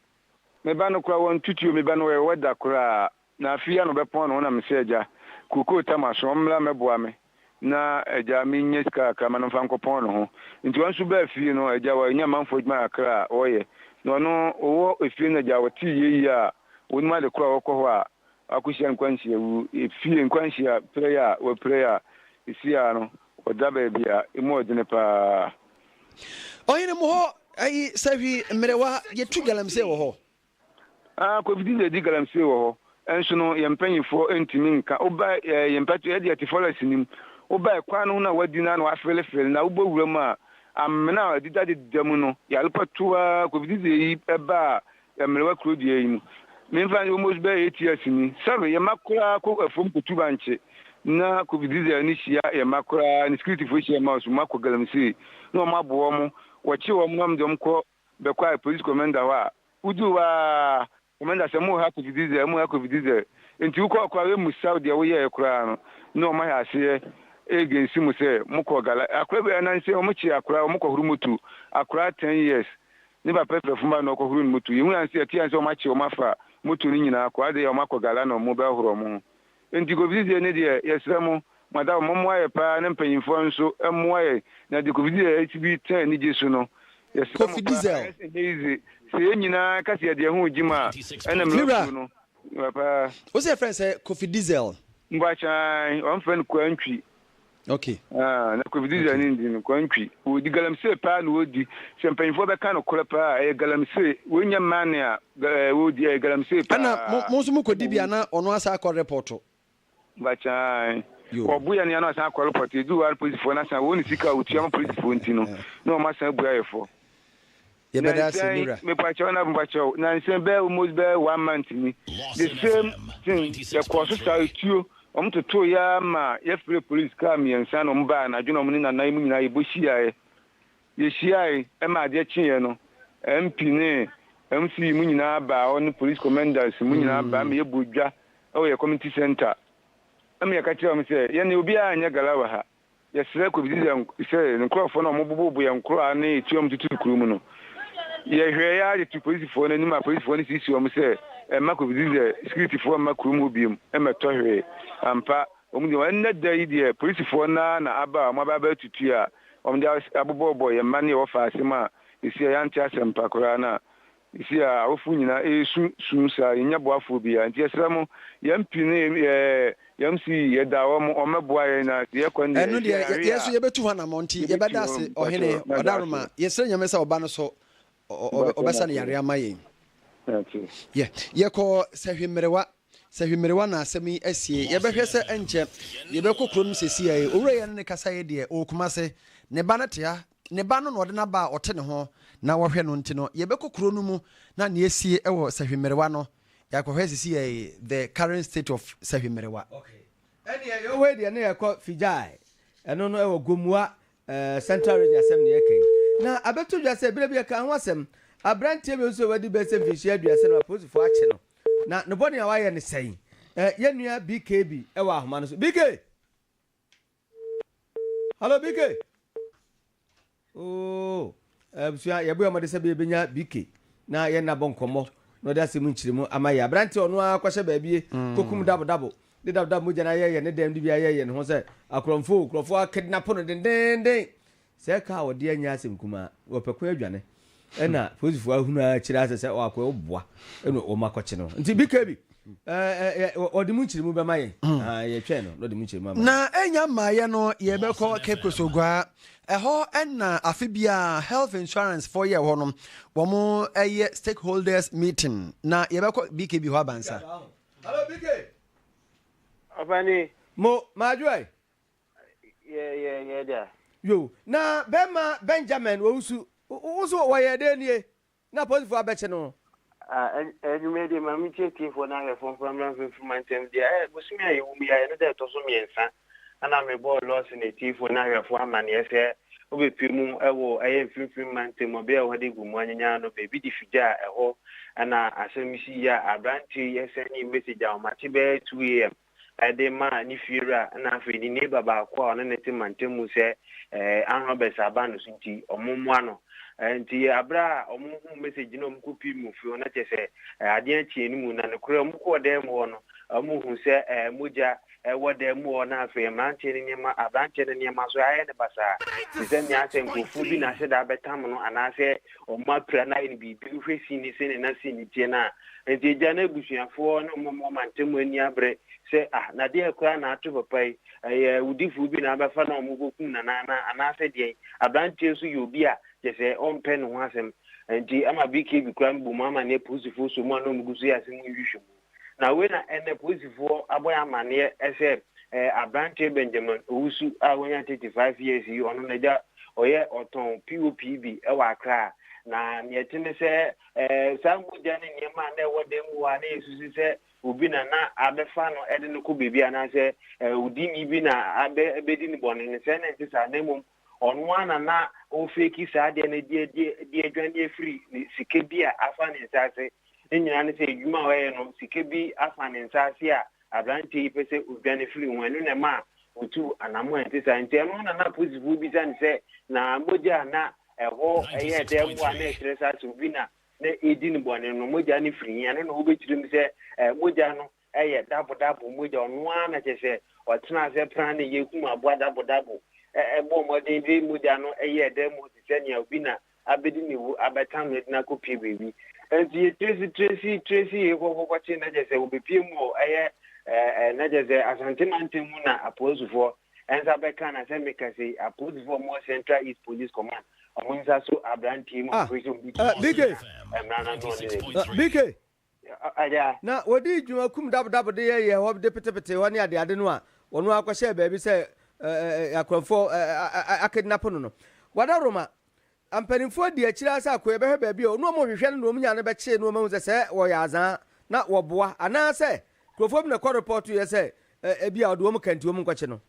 Me ba no koraa wɔntutuo me ba no ɛyɛ weather koraa Na afei ano bɛpɔn ano na mesɛ agya kookoo tama so ɔmmra mmɛboa me na agya mennya sika kakra ma no mfa nkɔpɔn ne ho nti ɔno nso baa fie no agya wɔ nya manfoɔ adwuma kakra a ɔyɛ na ɔno ɔwɔ efie no agya ɔtee yei a ɔnim ade korɔ a ɔkɔ hɔ a akɔhyia nkwanhyia wu efie nkwanhyia pira yi a wɔpira yi a ɛsi a no ɔda baabi a ɛmu ɔdene paa. Ɔhene mo hɔ ayi sahwi mmerewa yɛtu galamsey wɔ hɔ. Aah Koffi de adi galamsey wɔ hɔ nso no yɛn mpaninfoɔ ntumi nka woba ɛɛ yɛn mpatuo yɛde yɛte forest no mu woba ɛkwan no ho na wadi na na wafeele feele na wobɔ wura mu a amena a ɛdeda deda mu no yare patuaa Koffi de yi ɛbaa ɛmmerewa kuro deɛ yi mu menfa nyi almost bɛyɛ eight years ni sɛbe yɛn mma koraa kɔ afuom kɔtu bankye na Koffi de ani hyia yɛn mma koraa ne security foɔ hyia yɛn mma nso wɔn akɔ galamsey na wɔn aboa wɔn wɔkye wɔn na wɔn de wɔn kɔ bɛkɔe police commander hɔ a woduu hɔ ara commander sɛ mo ha kofi diesel mo ha kofi diesel nti wokɔɔ koraa wemmusaw deɛ woyɛɛ koraa no na wɔn ayɛ aseɛ against mo sɛ mokɔɔ gala akora bi ananse wɔn kye akora wɔn kɔhoro motu akora ten years ne papa fira fuma na ɔkɔhoro ne motu yɛhunu anse yɛte anse wɔn akye wɔn afa motu no nyinaa kɔ adeyɛ wɔn akɔ gala na wɔn bɛhoro wɔn ho Enti kofisi deɛ ne deɛ, yɛsrɛ mo, mo adamfo, mommoa yɛ paa ne mpanyimfoɔ nso mmoa yɛn na deɛ Kofi Diesel asi bi tɛn anigye so no. Yɛsrɛ mo Kofi paa, Diesel. ayɛ sɛ ɛnyɛ yize sɛ yɛn nyinaa ka sɛ yɛde yɛn ho regye mu a, ɛna Me wura, mmerɛw-kuo no yɛ paa. wo sɛ yɛfrɛ no sɛ Kofi Diesel? Mboakye ae, wɔfrɛ no Kwantwi. Okay. Ah, na Kofi Dizzy ne ndi no kwantwi. Wodi galamsey paa na wodi. Sɛ mpanyinfoɔ bɛka no korɛ paa ɛyɛ galamsey. Wonyɛ mane a eh, wodi ɛyɛ galamsey paa. Ɛna mo mo nso mo kɔdi bi a na ɔno asa akɔ repɔto. Bakyan. Wɔbo yɛ no yɛ na ɔsan akɔ repɔto. Edu hɔ a polisifoɔ no asan wɔn ne sika a wɔtua ma polisifoɔ nti no na wɔn asan abu ayɛ fɔ. Yɛbɛda ase Nansan wura. mepakyɛw na mepakyɛw nansan bɛyɛ almost bɛyɛ one month ni the same thing yɛkɔɔ so saa etuo wɔn totoo yɛ ara ma yɛfrɛɛ police kaa mmiɛnsa na wɔn baa anadwo na wɔn ne Nana yi mu nyinaa yɛbɔ hyiaeɛ yɛhyiae ɛma adeɛ kyeeɛ no MP ne MC yi mu nyinaa baa hɔ ne police commanders mu nyinaa baa ma yɛbɔɔ dwa ɛwɔ yɛ community centre ɛma yɛka kyerɛɛ wɔn sɛ yɛne obiara nyɛ gala wɔ ha Yɛsrɛ kɔbisi sɛ sɛ nkorɔfoɔ no a wɔboboo boyɛ nkorɔ a ne etuo a wɔtutuu kuro mu no. Yɛhwɛɛ ara de tuu polisifoɔ no anim a polisifoɔ no siisii wɔn sɛ mma kɔbisi sɛ sikiritifoɔ mma kurom hɔ biom mmɛtɔ hwee. Ampa, wɔn deɛ ɛnnɛ da yi deɛ polisifoɔ no ara na aba a wɔaba abɛtutu a wɔde abobɔbɔ yɛn mma no yɛwɔ faasem a ɛsi a yɛante asɛmpa koraa no a Ese a awofo nyina eesu su saa, yennya boafoɔ biara, nti yɛsrɛ mo, yɛn pi ne yɛɛ yɛm se yi, yɛda hɔ mo ɔmmɛboa yɛn na se yɛkɔ ne deɛ, ese a hwe a. Yɛso yɛbɛtu ho anamɔn, nti yɛbɛda ase Ɔhene, Ɔdaroma, yɛsrɛ Nyame sɛ Ɔba no so Ɔbɛsane yareɛ ama yɛn. Yɛ, yɛkɔ Sahwi Mmerewa, Sahwi Mmerewa na asɛm yi asie, yɛbɛhwɛ sɛ ɛnkyɛ yɛbɛkɔ kuro nom sesiai, Owura yi ɛne no kasaeɛ deɛ, ɔwɔ Kumase, ne ba no te ha, Ne Ba no na ɔde no aba a ɔte ne ho na ɔhwɛ no nti no, yɛbɛkɔ kuro no mu na nea asie wɔ Sahwi Mmerewa no, yɛakɔhwɛ sisi yɛ the current state of Sahwi Mmerewa. Okay. Ɛneɛ yɛwɔ hɔ yi deɛ na yɛkɔ Fijai, ɛno no ɛwɔ Gomoa Central Region asɛm na yɛka yi. Na abɛto dwa sɛ berɛ bi yɛkaa ho asɛm, aberanteɛ bi nso a wadi bɛsɛ mfinhyia aduasa no apolisifoɔ akye no, na ne bɔne a wayɛ no sɛn? Yɛn nua BKB wɔ ahoma no so. BK! Hello BK. Oh, abusua eh, yɛbɔ yɛn mmɔden sɛ bɛbɛnya BK na yɛn nabɔ nkɔmmɔ na ɔde asɛm nkyerɛmu ama yɛ aberante ɔno ara kɔhyɛ baabi mm. kɔkum dabodabo de dabodabo mogya no ayɛyɛ ne dɛm de bi ayɛyɛ ne ho sɛ akorɔmfo kurɔfoɔ akidnapo no dendenden Sɛ car a wɔdeɛ nyɛ asɛm kumaa, wɔpɛ kwan adwane ɛna polisifoɔ ahunu ara akyire asɛ sɛ ɔakɔ yɛ ɔboa ɛna wɔn akɔkye no nti BKB ɔde mu nkyerɛmu bɛma yɛn yɛtwɛn no na ɔde mu nkyerɛmu ama Na ɛnya mmaeɛ no yɛbɛkɔ Cape Coast Oguaa ɛhɔ ɛna afe biara health insurance foɔ yɛ hɔ no wɔn ɛyɛ stakeholders meeting na yɛbɛkɔ BKB hɔ abansa. Hello BK. Ɔpani. Mo, madwoɛ. Yɛ yɛ yɛ da. Yo, na bɛrima Benjamin wɔ wo su. Wo nso wɔyɛɛ dɛn nie na apolisifoɔ abɛkye no? Ah, ɛn ɛnwomɛ deɛ ma menkyerɛ atiefoɔ no ahwɛfoɔ mfa mmra mfimfima ntɛm deɛ ɛ eh, bosome a yɛwɔ mu yi a ɛno da ɛtɔ so mmiɛnsa ana mebɔɔ Lɔɔse no atiefoɔ no ahwɛfoɔ amanneɛ sɛ wobɛpue mu wɔ ɛyɛ mfimfima ntɛm ɔbea a wɔde agu mu anyanyaa no baabi de figyaa ɛhɔ ɛna asɛm yi si yɛ a aberanteɛ yi sɛnee message a wɔate bɛyɛ 2am de maa ne fiewura na afei ne neighbor baako a ɔne no te mantam mu sɛ armed robbers aba no so nti wɔmmoa no. Nti berɛ a wɔhuu message no a wɔkɔpii mu firi hɔ na kyerɛ sɛ adeɛ akyeɛ no mu na nokorɛ wɔkɔɔ dan mu hɔ no wɔhuu sɛ mogya wɔ dan mu hɔ na afei mmeranteɛ no nneɛma aberanteɛ no nneɛma nso ayɛ no basaa te sɛ nea asɛ nkurɔfoɔ bi na aseda abɛtam no anaasɛ wɔn apira no ayɛ no biribi wohwɛ sin ne sɛnea na sin no teɛ no a, nti agya no abusuafoɔ ne wɔn wɔn mantam ani abere sɛ ah na deɛ koraa na ato papa yi ɛyɛ awudifoɔ bi na abɛfa na wɔn kɔkum nana na anaasɛ deɛn aberanteɛ nso yɛ obi a kyɛ sɛ ɔmpɛ ne ho asɛm nti ama BKB koraa mbom ama ne apolisifoɔ sɔ mu a na wɔn gu so yɛ asɛm nhwehwɛ mu. Na wei na ɛnnɛ polisifoɔ abɔ yɛn amaneɛ sɛ eh, aberanteɛ Benjamin Owusu a wanya 35 years yi, ɔno n'agya ɔyɛ ɔtɔn POP bi wɔ Accra. Na nea ɛte ne sɛ eh, saa mogya ne nneɛma a na ɛwɔ dan mu hɔ a na yɛsusu sɛ obi na na abɛfa no de no kɔ baabi anaasɛ eh, odini bi na abɛ, abɛdi ne bɔne no, sɛ na ɛnte saa na mmom Ɔno ara na na ɔrefeeki saa adeɛ no de adi de adwane afiri ne sika bi a afa ne nsa ase. Ne nyinaa ne sɛ adwuma a ɔyɛ no, sika bi afa ne nsa ase a aberanteɛ yi pɛ sɛ ɔdwane firi ho. Ɛno na ɛma a ɔtuu anammɔn a ɛte saa. Nti ɛno na na apolisifoɔ rebisa no sɛ, na mogya a na ɛhɔ yɛ dɛ mmoa a na ɛkyerɛ saa sɛ obi na na ɛredi no bɔne no, mogya no firi he? Ɛno na wɔbɛkyerɛ mu sɛ mogya no Ɛyɛ dabo dabo mogya ɔno ara na kyerɛ sɛ ɔtena ase pran ne yɛ kum aboa dabo dabo. Ɛbɔɔ mmɔden de mogya no yɛɛ dɛ mu te sɛ nea obi na abedi ne wu abɛtam no de no akopue baabi. Enti yɛ Tracy Tracy Tracy yɛ kɔkɔkɔkye na kyerɛ sɛ wobepue mu wɔ ɛyɛ ɛɛ na kyerɛ sɛ Asante mantam mu na apolisifoɔ nsa bɛka no asɛm meka sei apolisifoɔ a wɔwɔ Central East Police Command wɔn nsa so aberanteɛ mu operation bi to wɔn so na mmara no ano ɔne n'adi. BK, Na wɔdii dwuma kum dabodabo de yɛyɛɛ hɔ de petepetee hɔ ne adeade no a wɔn ara kɔhyɛɛ baabi sɛ akorɔmfoɔ akidnapo no no. Guadarroma mpanimfoɔ dii akyire ara sɛ akoeɛ bɛhwɛ baabi a nnoɔma ɔhwehwɛ ne nnoɔma nyaa no bɛkyee nnoɔma hu sɛ sɛ wɔyɛ azaa na wɔboa anaasɛ nkurɔfoɔ bi na ɛkɔ repɔɔtoeɛ sɛ ebia ɔde wɔn ka nti wɔn nkɔkye no.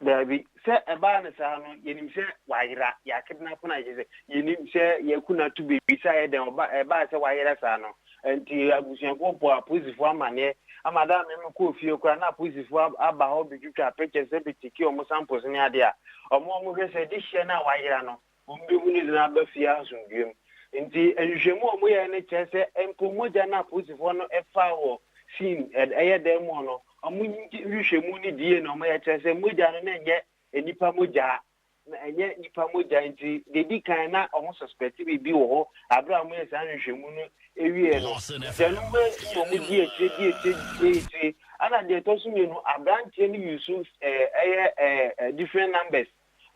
Daabi, sɛ ɛbaa no saa no, yɛnim sɛ wayera, yɛakere no afena, kyerɛ sɛ, yɛnim sɛ yɛaku no ato baabi, sɛ ayɛ dɛn, ɔba, ɛbaa sɛ wayera saa no, ɛnti abusuafoɔ bɔɔ apolisifoɔ amaneɛ, ama da a me mekɔɔ fie koraa, na apolisifoɔ ab, aba hɔ bɛtwitwaa pictures, bɛkyɛkii wɔn samples ne adeɛ a, wɔn a wɔhwɛ sɛ, de hyia no a wayera no, Wɔbɛhu no dze no aba fie asomdwoeɛ mu. Nti nhwehwɛmu a wɔyɛeɛ no kyerɛ sɛ mpo mogya no a apolisifoɔ no faa wɔ scene, ɛyɛ dan mu hɔ no, wɔn nhwehwɛmu no die na wɔyɛ kyerɛ sɛ mogya no na ɛnyɛ nnipa mogya. Na ɛnyɛ nnipa mogya nti deɛ ɛdi kan na wɔn suspect biribi wɔ hɔ aberɛ a wɔyɛ saa nhwehwɛmu no wieɛ no. Nti ɛno ho nti na wɔn di akyire di akyire di akyire. Ɛna deɛ ɛtɔ so mmienu aberanteɛ no use ɛyɛ different numbers.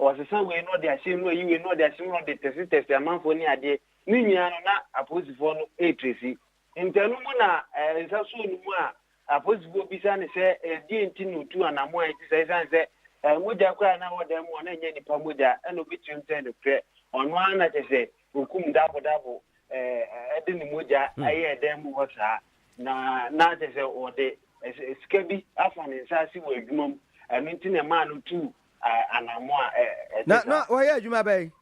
ɔsesa wei na ɔde ahyɛ mu, ɔyi wei na ɔde ahyɛ mu, na ɔde tɛsetɛse amanfoɔ ne adeɛ. Ne nyinaa no, na apolisifoɔ no retresi. Nti ɛno mu na eh, nsasoɔ no mu a apolisifoɔ bisa no sɛ eh, deɛ nti na ɔtu anammɔn a ɛte sɛ ɛsiane sɛ eh, mogya koraa na ɛwɔ dan mu hɔ na ɛnyɛ nnipa mogya ɛna ɔbɛtumi mu sɛ nokorɛ ɔno ara na kyɛ sɛ ɔkum dabodabo eh, ɛde ne mogya hmm. ɛyɛ dan mu hɔ saa na na kyɛ sɛ ɔde sika bi afa ne nsa ase wɔ adwuma mu ɛno nti na ɛmaa no tu anamɔ a ɛte saa. Na na wɔyɛ adwuma bɛn?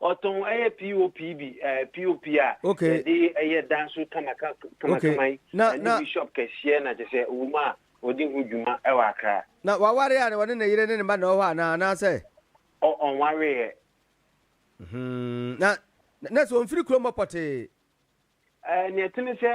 Ɔtɔn ɛyɛ pop bi ɛɛ pop a. Okay. Yɛde ɛyɛ dan so kamaka kamakama yi. Na na bishop kɛseɛ na kyɛ sɛ owó mu a ɔdi ho dwuma ɛwɔ akra. Na wawari a na wɔne ne yere ne ne mma na ɔwɔ hɔ anaa anaasɛ. Ɔ ɔnwari yɛ. Hmm na na sɛ ɔnfiri kurom hɔ pɔtee. Nea ɛte ne sɛ,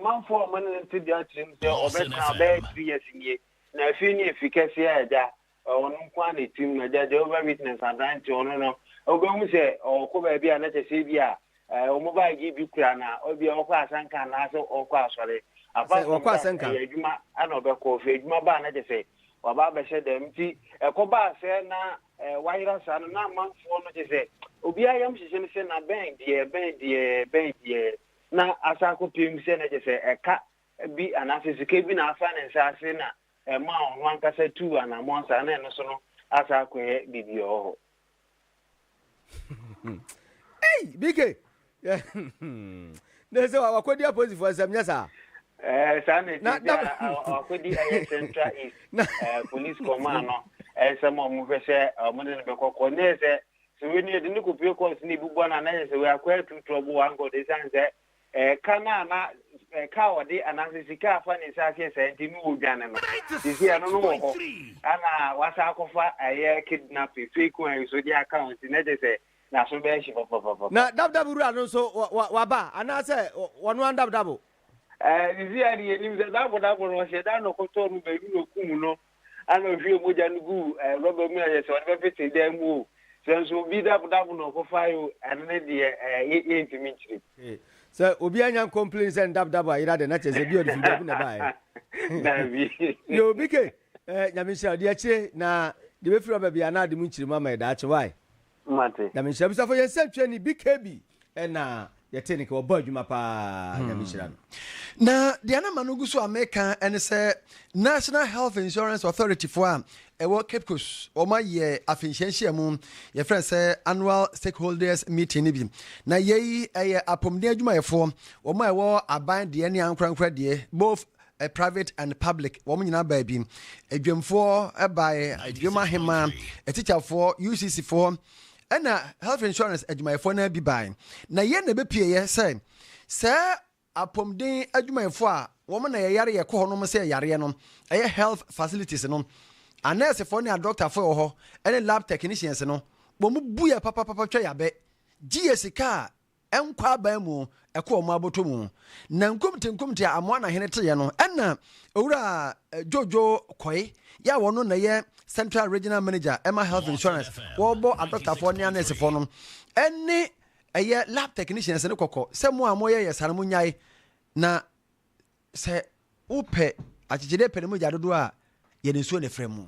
manfoɔ a wɔn ne no te dwa kyerɛ mu sɛ wɔbɛka bɛyɛ three years nie, na afei ne afi kɛseɛ a agya ɔno nko ara na ɛtim no. Agya Jehovah Witness aberante ɔno no, wobɛhu sɛ ɔkɔ baabi a na kyɛ sɛ ebi a wɔn baage bi kura na ebi a ɔkɔ asɛnka anaasɛ ɔkɔ asɔre. Apart from that, ɛyɛ adwuma na ɔbɛkɔ. Ɔfiri adwuma ba a na kyɛ sɛ ɔaba abɛhyɛ dɛm. Ntsi ɛkɔbaa sɛ na wɔayera saa no, na amamfoɔ no kyesɛ obiara yam hyehye no sɛ na bɛn deɛ, bɛn deɛ, bɛn deɛ. Na asa akɔpem sɛ na kyesɛ ɛka bi anaasɛ sika bi na afa ne nsa ase na ɛmaa ɔno ankasa tuu anamɔn saa, na ɛno so no asa akɔyɛ biribi wɔ hɔ. ei bk na sɛ wakɔdi apolisifoɔ nsɛm nyɛ saa eh, saa na ɛti sɛ wakɔdi ɛyɛ central east eh, police command no ɛnsɛm a wɔhwɛ sɛ wɔde no bɛkɔ kɔ ne sɛ sɛ wei ne yɛde ne kɔpie kɔɔ so ne ɛbubua no anayɛ sɛ wei akɔ atu trɔbo wankɔ de sane sɛ Ɛka no a na ɛka a ɔde anaasɛ sika a afa ne nsa ase yɛ saa nti ne wɔdwane no. Seesei ɛno no wɔ hɔ a na wɔasan akɔfa ɛyɛ kidnapping, fake one yi nso de aka ho nti na kyerɛ sɛ n'aso bɛyɛ hye papapapa. Na dabdab wura no nso waba anaasɛ ɔno ara dabdab? Seesei ara deɛ yɛnim sɛ dabdab no ɔhyɛ da na ɔkɔtɔɔ no baabi na ɔkum no Ana ɔhwiee mogya no guu ɛɛ rɔba mu a yɛ sɛ ɔde bɛpete dan mu o, sɛ nso obi dabodabo na ɔkɔfaeɛ o, ɛno ne deɛ ɛɛ yɛ yɛntumi nkyerɛ mu. Ee, sɛ obi anya nkɔmpleni sɛ ne dabodabo ayera deɛ, na kyerɛ sɛ bi a ɔde firi baabi na ɛbaeɛ. Dabi. Yɛ obi ke, ɛɛ Nyame nhyira wo, deɛ akyire na deɛ bɛfiri rɔba biara na ade mu nkyerɛ mu ama yɛ daakye, wai? Mate. Nyame nhyira abusafo yɛn sɛntwɛni BKB ɛna yɛte ne ke wɔbɔ adwuma paa nyame nhyira no. Na deɛ na ma no gu so a meka ɛne sɛ National Health Insurance Authority foɔ a ɛwɔ Cape Coast wɔn ayɛ afenhyia nhyiamu yɛfrɛ no sɛ annual stakeholders meeting no bi na yei ɛyɛ apɔmuden adwumayɛfoɔ wɔn a ɛwɔ aban deɛ ne ankorankora deɛ both private and public wɔn nyinaa baa bi adwamfoɔ bae adwam ahema atikyafoɔ ucc foɔ ɛna health insurance adwumayɛfoɔ no bi bae na yɛn na ɛbɛpieeɛ sɛ sɛ apɔmuden adwumayɛfoɔ a wɔn na yɛyare yɛkɔ hɔ nom sɛ yareɛ no ɛyɛ health facilities no anɛɛsefoɔ ne adɔktafoɔ wɔ hɔ ɛne lab technicians no wɔn bu yɛ papapapa twa yabɛ gye yɛ sika a nkɔ aban mu kɔ wɔn aboto mu. Na nkumte nkumte a amoa na hene teeɛ no, ɛna owura Jojo Kɔe yɛ a wɔno na ɛyɛ Central Regional Manager ɛma Health Insurance, wɔbɔ adɔktafoɔ ne anɛɛsefoɔ no ɛne ɛyɛ lab technicians no kɔkɔ sɛ mo a moyɛ yɛ saa no monyae na sɛ wopɛ akyekyedeɛ pɛ ne mogya dodoɔ a yɛde nsuo na ɛfra mu.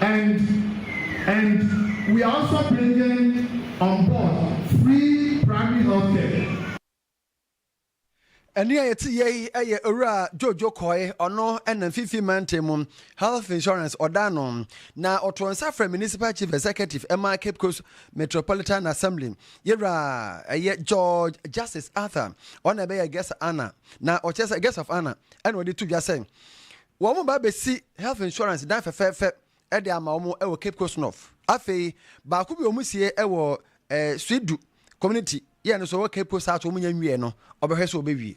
and and we are also bringing on board free primary health care. Ɛnne a yɛte yɛ yi yɛ Owura Jojo Kɔe, ɔno na Mfimfini Mantam mu Health Insurance ɔda ano, na ɔtoo nsa frɛ Municipal Chief Executive ɛma Cape Coast Metropolitan Assembly, yɛwura ɛyɛ George Justice Arthur, ɔna ɛbɛyɛ Guest Honor, na ɔkyerɛ sɛ Guest of Honor ɛna ɔde to dwa sɛ Wɔreba abesi health insurance dan fɛfɛɛfɛ de ama wɔn wɔ Cape Coast North. Afei, baako bi a wɔsie wɔ eh, Suite Du Community yɛ no so wɔ Cape Coast South wɔn nya nwie no, ɔbɛhwɛ sɛ wɔbɛwie.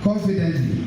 Confidently,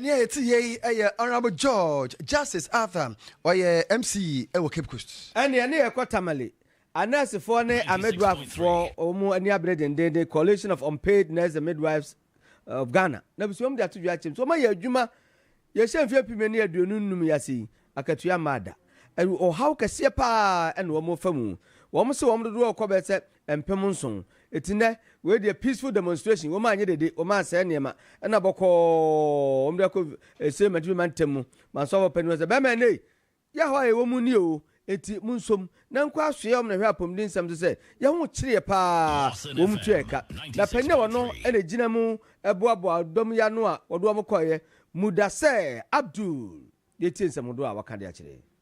Nea ɛte yei yɛ Honourable George Justice Arthur, ɔyɛ MCE wɔ Cape Coast. Ɛnneɛ ne yɛkɔ Tamale. Anɛɛsefoɔ ne amidwifoɔ a wɔn ani abere dendeenden, Coalition of Unpaid Nurses and Midwives of Ghana, na bsua wɔn de ato dwa akyɛm sɛ wɔayɛ adwuma yɛhyɛ mfeɛ mpem ne aduonu nnum yi ase yi, akatua mmaa da. Ɔhaw kɛseɛ pa ara na wɔfa mu. Wɔn se wɔn dodoɔ rekɔ bɛyɛ sɛ mpem nson. Eti nnɛ, wei deɛ peaceful demonstration, wɔn anyɛ dede, wɔn ansɛe nneɛma, ɛna bɔkɔɔ wɔn de akɔ ɛsei mantumi ma ntɛm mu, ma nsɔfo panin hɔ sɛ, bɛɛma ɛnei, yaw a yɛwɔ mu nie oo, enti monsom, na nkɔ asoɛ wɔn na hwɛ apɔmuden nsɛm nso sɛ, yɛn ho kyereɛ paa, wɔn tua ɛka, na panin a wɔno na egyina mu boaboa dɔm yi ano a wɔde wɔn kɔeɛ, Mudasɛɛ Abdul, yɛtie nsɛm hodoɔ a wɔaka de akyerɛ.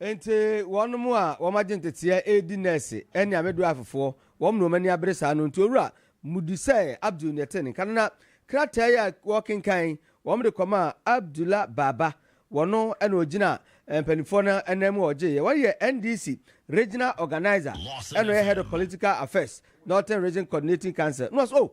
Enti wɔnom a wɔagye nteteɛ redi nɛɛse ne amedwife-foɔ, wɔnom na wɔn ani abere saa no. Nti Owura, mudi sɛ Abdul na ɛte nka no. Na krataa yi a wɔrekenkan yi, wɔde kɔmaa Abdullah Baba. Wɔno na ɔgyina mpaninfoɔ no nan mu a ɔgyeeɛ. Wɔno yɛ NDC Regional Organiser, ɛna ɔyɛ Head of Political Affairs, Northern Region Coordinating Council. Na ɔse, oh,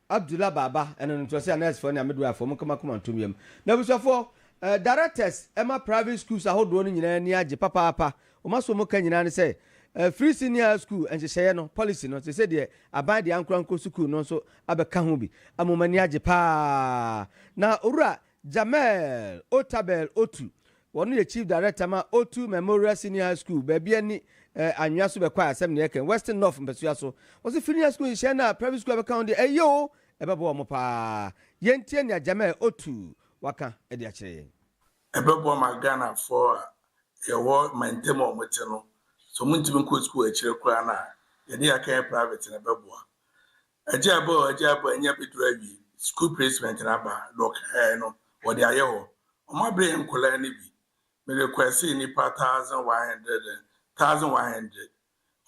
Abdullah Baba ɛna no ntoaseɛ a nursefoɔ ne a midwivefoɔ mo nkama koma ntom yam na abusuafoɔ eh, directors ɛma private schools ahodoɔ no nyinaa ni agye papaapa wɔn aso wɔn ka nyinaa ne sɛ eh, free senior high school nhyehyɛeɛ no policy no te sɛ deɛ aban deɛ ankora nkɔ sukuu no nso abɛka ho bi ama wɔn ani agye paa na owura Jamel Otabel Otu, wɔno yɛ Chief Director ma Otu Memorial Senior High School, baabi a ni eh, anwea so bɛkɔ a asɛm ne yɛkɛn, Western North mpasua so. Ɔse firi ne high school nhyehyɛe no a private school a bɛka ho deɛ ɛyɛ o, ɛbɛboa wɔn paa. Yɛntie nea Jamel Otu waka de akyerɛ yɛn. Ɛbɛboa ma Ghanafoɔ a yɛwɔ mantam a wɔte no, sɛ wɔntumi nkɔ sukuu akyire koraa no a, yɛde yɛaka yɛ private no ɛbɛboa. Agya bɔ o agya bɔ ɛnɛ abɛduru awie school placement no aba na ɔkaɛɛ no wɔde ayɛ hɔ ɔmo abrɛ yɛn nkɔlaa no bi me requestii nnipa thousand one hundred and thousand one hundred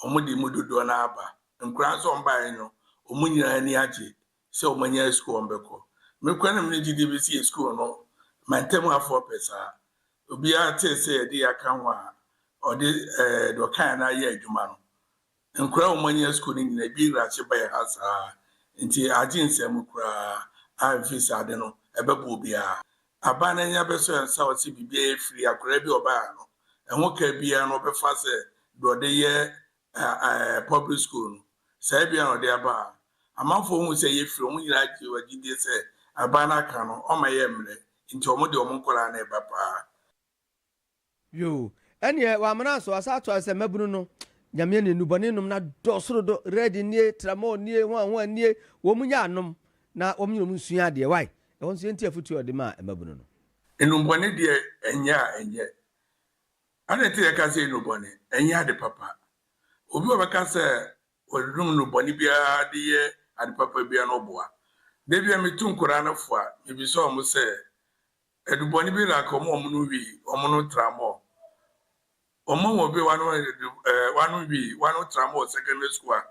ɔmo de mu dodoɔ no ara ba nkɔlaa nso ɔmo baeɛ no ɔmo nyinaa ani agye sɛ ɔmo anya school ɔmo bɛkɔ me kura no me ne gyidie bɛsi yɛ school no mantam afoɔ pɛ saa obiara tee sɛ yɛde yɛ aka ho a ɔde ɛɛ deɛ ɔkaeɛ no ayɛ adwuma no Nkora a wɔanyɛ sukuu no nyinaa bi nrakye ba yɛn ha saa ara, enti agye nsɛm mu koraa a mfe sɛ ade no ɛbɛboa obiara. Aban no anya bɛsɔ yɛn nsa wɔ sɛ biribiara yɛ firi akwadaa bi a ɔbae ha no, ɛho ka biara no wɔbɛfa sɛ deɛ ɔde yɛ ɛɛ public school no, saa biara na ɔde aba ha. Amanfoɔ hu sɛ ɛyɛ firi, wɔn nyinaa gye wɔn agyidie sɛ aban no aka no ɔmma yɛn mmerɛ, enti wɔde wɔn nkwadaa na ɛba pa ara. Yoo ɛneɛ wamena nso wasa ato ayɛ sɛ mmabunu no Nyame ani nnubɔne nom no adɔɔso dodo red nie tramol nie hua hua nie wɔn nyɛ anom na wɔn nyina wɔn nsua adeɛ wai ɛhɔ nso yɛntie afotuo a ɔde maa mmabunu no. Nnubɔne deɛ ɛnyɛ a ɛnyɛ Adɛn nti na yɛka sɛ nnubɔne ɛnyɛ ade papa Obi a ɔbɛka sɛ ɔnom nnubɔne biara de yɛ ade papa biara no ɔboa Da bi a metu nkwadaa no fo a mebisa wɔn sɛ Adubɔne bi na ka wɔn no wii, wɔn no tra mɔ. Wɔn a wɔbɛ wɔn ano adu ɛɛ wɔn ano wii, wɔn ano tra mɔ wɔ secondary school a,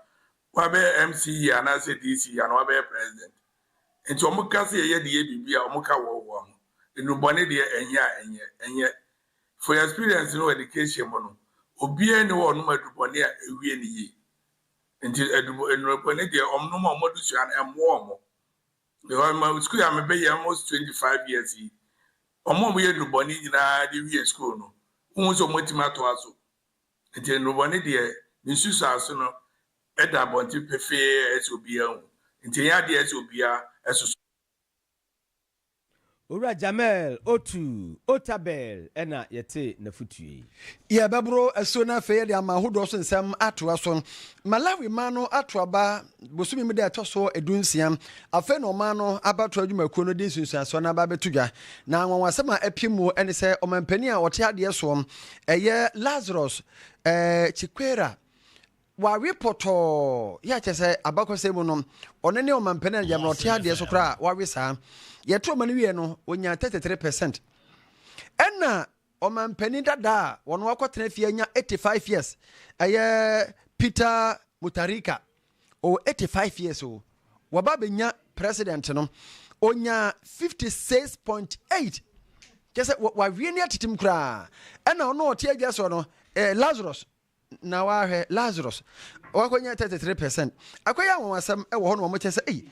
wɔabɛyɛ MCE anaasɛ DCE anaa wɔabɛyɛ president. Nti wɔn ka sɛ yɛyɛ de yɛ biribi a, wɔn ka wɔɔ wɔɔ ho. Nnubɔne deɛ ɛnyɛ a ɛnyɛ, ɛnyɛ. For your experience no wɔ education mu no, obiara nni hɔ a ɔnom adubɔne a ɛwie no yie. Nti adubɔ, nnurubɔne deɛ wɔnom a wɔn adusua no ɛmmoa wɔn. Because ma sukuu a mebɛ yɛ almost twenty five years yi, ɔmo a ɔmo yɛ nnubɔne nyinaa de wie sukuu no, wohu sɛ ɔmo atumi atoa so. Nti nnubɔne deɛ, ne nsusuase no ɛda abɔnten pefee a ɛsɛ obiara hu. Nti ɛnyɛ adeɛ a ɛsɛ obiara ɛsoso. Owura Jamel Otu Otabel na yɛtee n'afotu yi. Yɛbɛboro asuo no afei de ama ahodoɔ so nsɛm atoa so. Malawi man no ato aba bosome mu da a ɛtɔ so dunsia. Afei na ɔman no abatoɔ adwumakuo no de nsunsuansoɔ no aba abɛto dwa. Na anwanwasɛm a apue mu ne sɛ ɔmampanin a ɔte adeɛ soɔ, ɛyɛ Lazarus eh, Chikwera, Wawe pɔtɔɔ, yɛ a kyerɛ sɛ abakɔsɛm mu no, ɔno ne ɔmampanin a yɛmmerɛ ɔte adeɛ so koraa a wawe saa. Yɛto ɔma no wieɛ no, ɔnyaa 33 percent. Ɛna ɔmampanin dada a wɔn wakɔtena fie anya 85 years, ɛyɛ Peter Mutharika, ɔwɔ 85 years o. Wɔba abɛnya president no, ɔnyaa 56.8 kyɛ sɛ wawie ne atetem koraa. Ɛna ɔno ɔte adwa soɔ no, eh, Lazarus Na wahwɛ Lazarus, wakonya 33 percent. Akɔyɛ anwanwasɛm wɔ hɔ no ma mokyɛ sɛ, ei,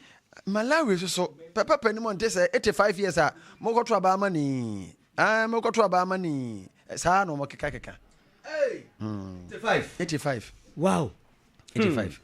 Malawi nso so, pɛpɛpɛ no mu nte sɛ, 85 years a, mokɔto aba ama no yi, ae, mokɔto aba ama no yi, saa na wɔkekakeka. Ei, hmm. 85. 85. Wow. 85. Hmm.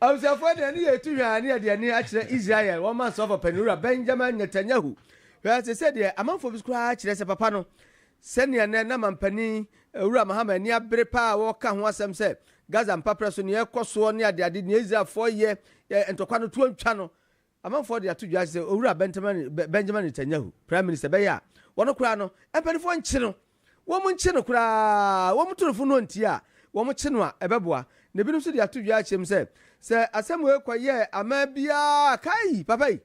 Abusuafoɔ deɛ ne yɛtu hwaa ne yɛde ani akyerɛ Israel wɔn mansɔfo panin wura Benjamin Netanyahu hwɛ te sɛ deɛ amanfoɔ bi koraa kyerɛ sɛ papa no sɛnea nɛ na mampanin wura Mahama ani abere paa wɔka ho asɛm sɛ Gaza mpaprɛ so nea ɛkɔ soɔ ne adeade nea Israelfoɔ yɛ ntɔkwa no tuo ntwa no Amanfoɔ de ato dwa sɛ Owura Benjamin Netanyahu, Prime Minister, bɛyɛ a, wɔno koraa no, mpaninfoɔ nkye no. Wɔn nkye no koraa, wɔn to no fo no nti a, wɔn kye no a, ɛbɛboa. Na ebinom nso de ato dwa akyerɛ mu sɛ, sɛ asɛm wei kɔ yɛɛ amaa biara a, kai! Papa yi,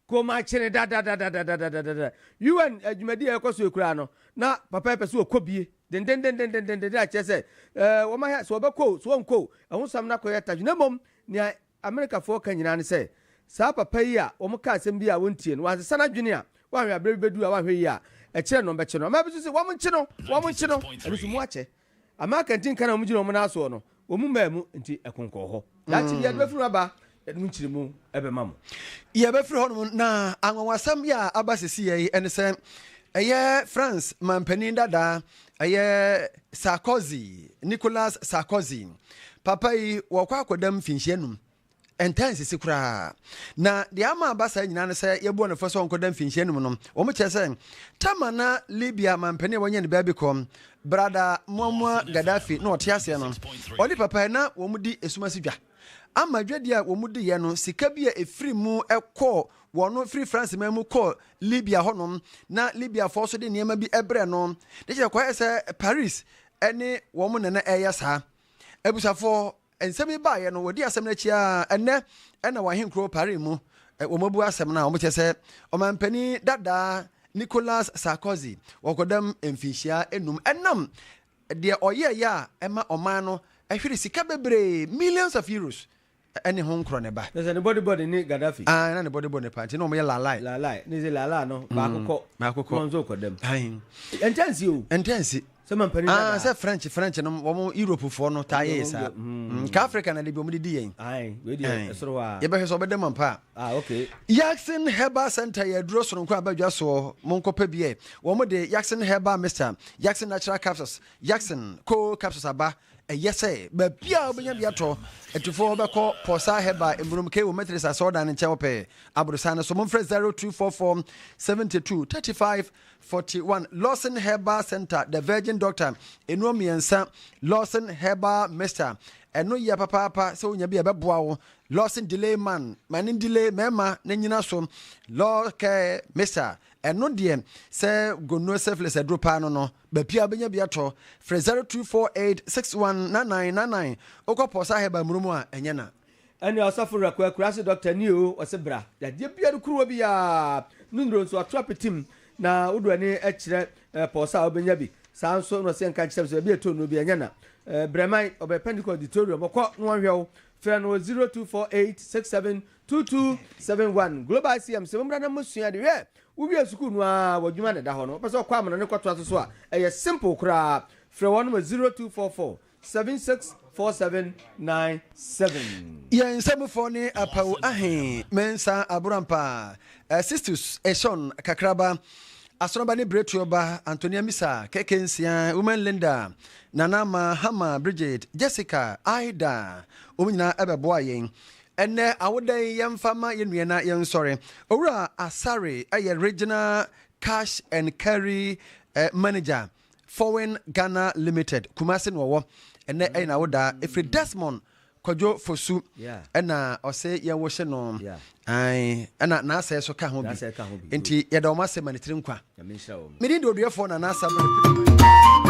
ka wɔn akye no dadadadadadadadada. UN dwumadi a ɛrekɔ so yi koraa no, na papa yi pɛ sɛ ɔkɔ bie dendendendendendenden akyerɛ sɛ, eh, wɔn ayɛ, sɛ ɔbɛkɔ o, sɛ ɔnkɔ o, ɛho sɛm no akɔyɛ tadwene. Na mmom, nea Amerikafoɔ ka nyinaa ne sɛ, saa papa yi a wɔka asɛm bi a wɔntie no, wansesa n'adwene a, wanhwɛ a berɛ bi bɛduru a wanhwɛ yie a, ɛkyerɛ no wɔbɛkye no. Amaa bi nso se, wɔnkye no! Wɔnkye no! Ɛno nso mu akyɛ. Amaa kantinka no a wɔgyina wɔn nan soɔ no, wɔn mu mmaa mu nti ɛko nkɔɔ hɔ. Daakye bi, yɛde bɛfiri hɔ aba, yɛde mu nkyeremu bɛma mo. Yɛbɛfiri hɔnom, na anwanwasɛm bi a aba seesei yi ne sɛ, ɛyɛ France manpanin dadaa Ɛyɛ Sarkozy, Nicolas Sarkozy. Papa yi wɔkɔ akɔda mfinhyia num. Ɛntaa nsisi koraa. Na deɛ ama aba saa nyinaa no sɛ yɛbɔ no fɔ sɛ ɔnkɔda mfinhyia num no. Wɔn kyerɛ sɛ tama na Libya mampanin a wɔnyɛ ne baabi kɔ brada Muammar Gaddafi na ɔte aseɛ no. Ɔne papa yi na wɔn di esumasi dwa. Ama dwadi a wɔn di yɛ no sika bi a efiri mu kɔ Wɔn firi France man mu kɔɔ Libya hɔ nom, na Libya foɔ nso de nneɛma bi brɛ no, ne kyɛ kɔyɛ sɛ Paris ɛne wɔn na na ɛyɛ saa. Abusafoɔ, nsɛm yi baayɛ no, wɔdi asɛm no akyi aa, ɛnɛ ɛna wɔ ahenkuro Paris mu, wɔn abu asɛm no a, wɔn kyɛ sɛ ɔmanpanin dadaa Nicolas Sarkozy wɔ kɔdam mfinhyia enum, ɛnam deɛ ɔyɛɛyɛ a ɛma ɔman no ɛhwere sika bebree, millions of euros, Ɛne ho nkorɔ ne ba. Nɛ sɛ ne body body ne Gaddafi. Aah na ne body body ne paa nti na ɔmo yɛ laalai. Laalai ne sɛ laalaa no baako kɔ. Baako kɔ. Na ɔnso kɔ dɛm. Ahin. Ɛntɛ nsi o. Ɛntɛ nsi. Sɛ mampanin dadaa. Aah sɛ French French nom ɔmo Europe foɔ no taa yɛ yɛ saa. Nka Africa na dabi ɔmo de di yɛn. Ahin wei deɛ ɛsoro hɔ aa. Yɛbɛhwɛ sɛ ɔbɛda mu ampa a. Aah ok. Yaxin Herbal Center yɛ aduro sononko aba dwa soɔ mo nkɔ pɛ bi ɛ. Ɔmo de Yaxin Herbal Mixture, Yaxin Natural Capsules, Yaxin, Cold Capsules aba. Ɛyɛ sɛ baabi a wobɛnya bi atɔ atufoɔ hɔ bɛkɔ Port Said Herbal Mmurom K wɔ Methodist Asɔredan no nkyɛn hɔ pɛɛ, aborosan no so. Momfrɛ 0244 72 35 41. Lawson Herbal Centre, The Virgin Doctor, nnuro mmiɛnsa, Lawson Herbal Mixture, ɛno yɛ papaapa sɛ wonya bi a ɛbɛboa wo, Lawson Delay Man, ma ne delay mmarima na nyina so, Lawcare Mixture, ɛno deɛ sɛ gonorrhea syphilis aduro paa no no. Baabi a wobɛnya bi atɔ, frɛ 0248619999, wokɔ Pɔsa Herbal Mmuro mu a, ɛnyɛ na. Ɛne ɔsɔfo werɛ ko akurase dɔkta ni oo, ɔse bra. Yadeɛ biara kuruwa bi a ne nnuro nso ato apete mu na wode w'ani kyerɛ Pɔsa a wobɛnya bi. Saa nso na ɔse yɛnka nkyerɛ wo sɛ baabi a ɛtɔ nnuro bi ɛnyɛ na. Brɛ man, ɔbɛyɛ Pentecost Auditorium, ɔkɔ na wɔnhwɛ wo. Frɛ no 024867 Two two seven one Global ICM se mommra na mo sua ade. Hwɛ! Wo wie sukuu no ara w'adwuma na ɛda hɔ no, wopɛ sɛ ɔkɔ amena no kɔtoa so so a, ɛyɛ simple koraa. Frɛ wɔn wɔ zero two four four seven six four seven nine seven. Yɛn nsɛmfo ne Apawu Ahe Mensah Aborampah, Sixtus Eshon Kakraba, Asoraba ne Biretuoba, Antonia Misa, Keke Nsia, Women Linda, Nana Mahama, Bridget, Jessica, Ida, wɔn nyinaa bɛboaa yɛn. Ɛnnɛ awoda yi yɛmfa mma yɛn nua na yɛnsɔre. Owura Asare yɛ Regional Cash and Carry Manager, Fowin Ghana Limited, Kumasi na ɔwɔ. Ɛnnɛ ɛyɛ n'awoda. Ɛfiri Desmond Kwadwo Fosu na ɔse yɛnwohye no. Ae, ɛna Naasɛ nso ka ho bi. Enti yɛda wɔn ase ma ne tiri nkwa. Me din de Oduɛfoɔ Nana Asare Bɛn Apidaman.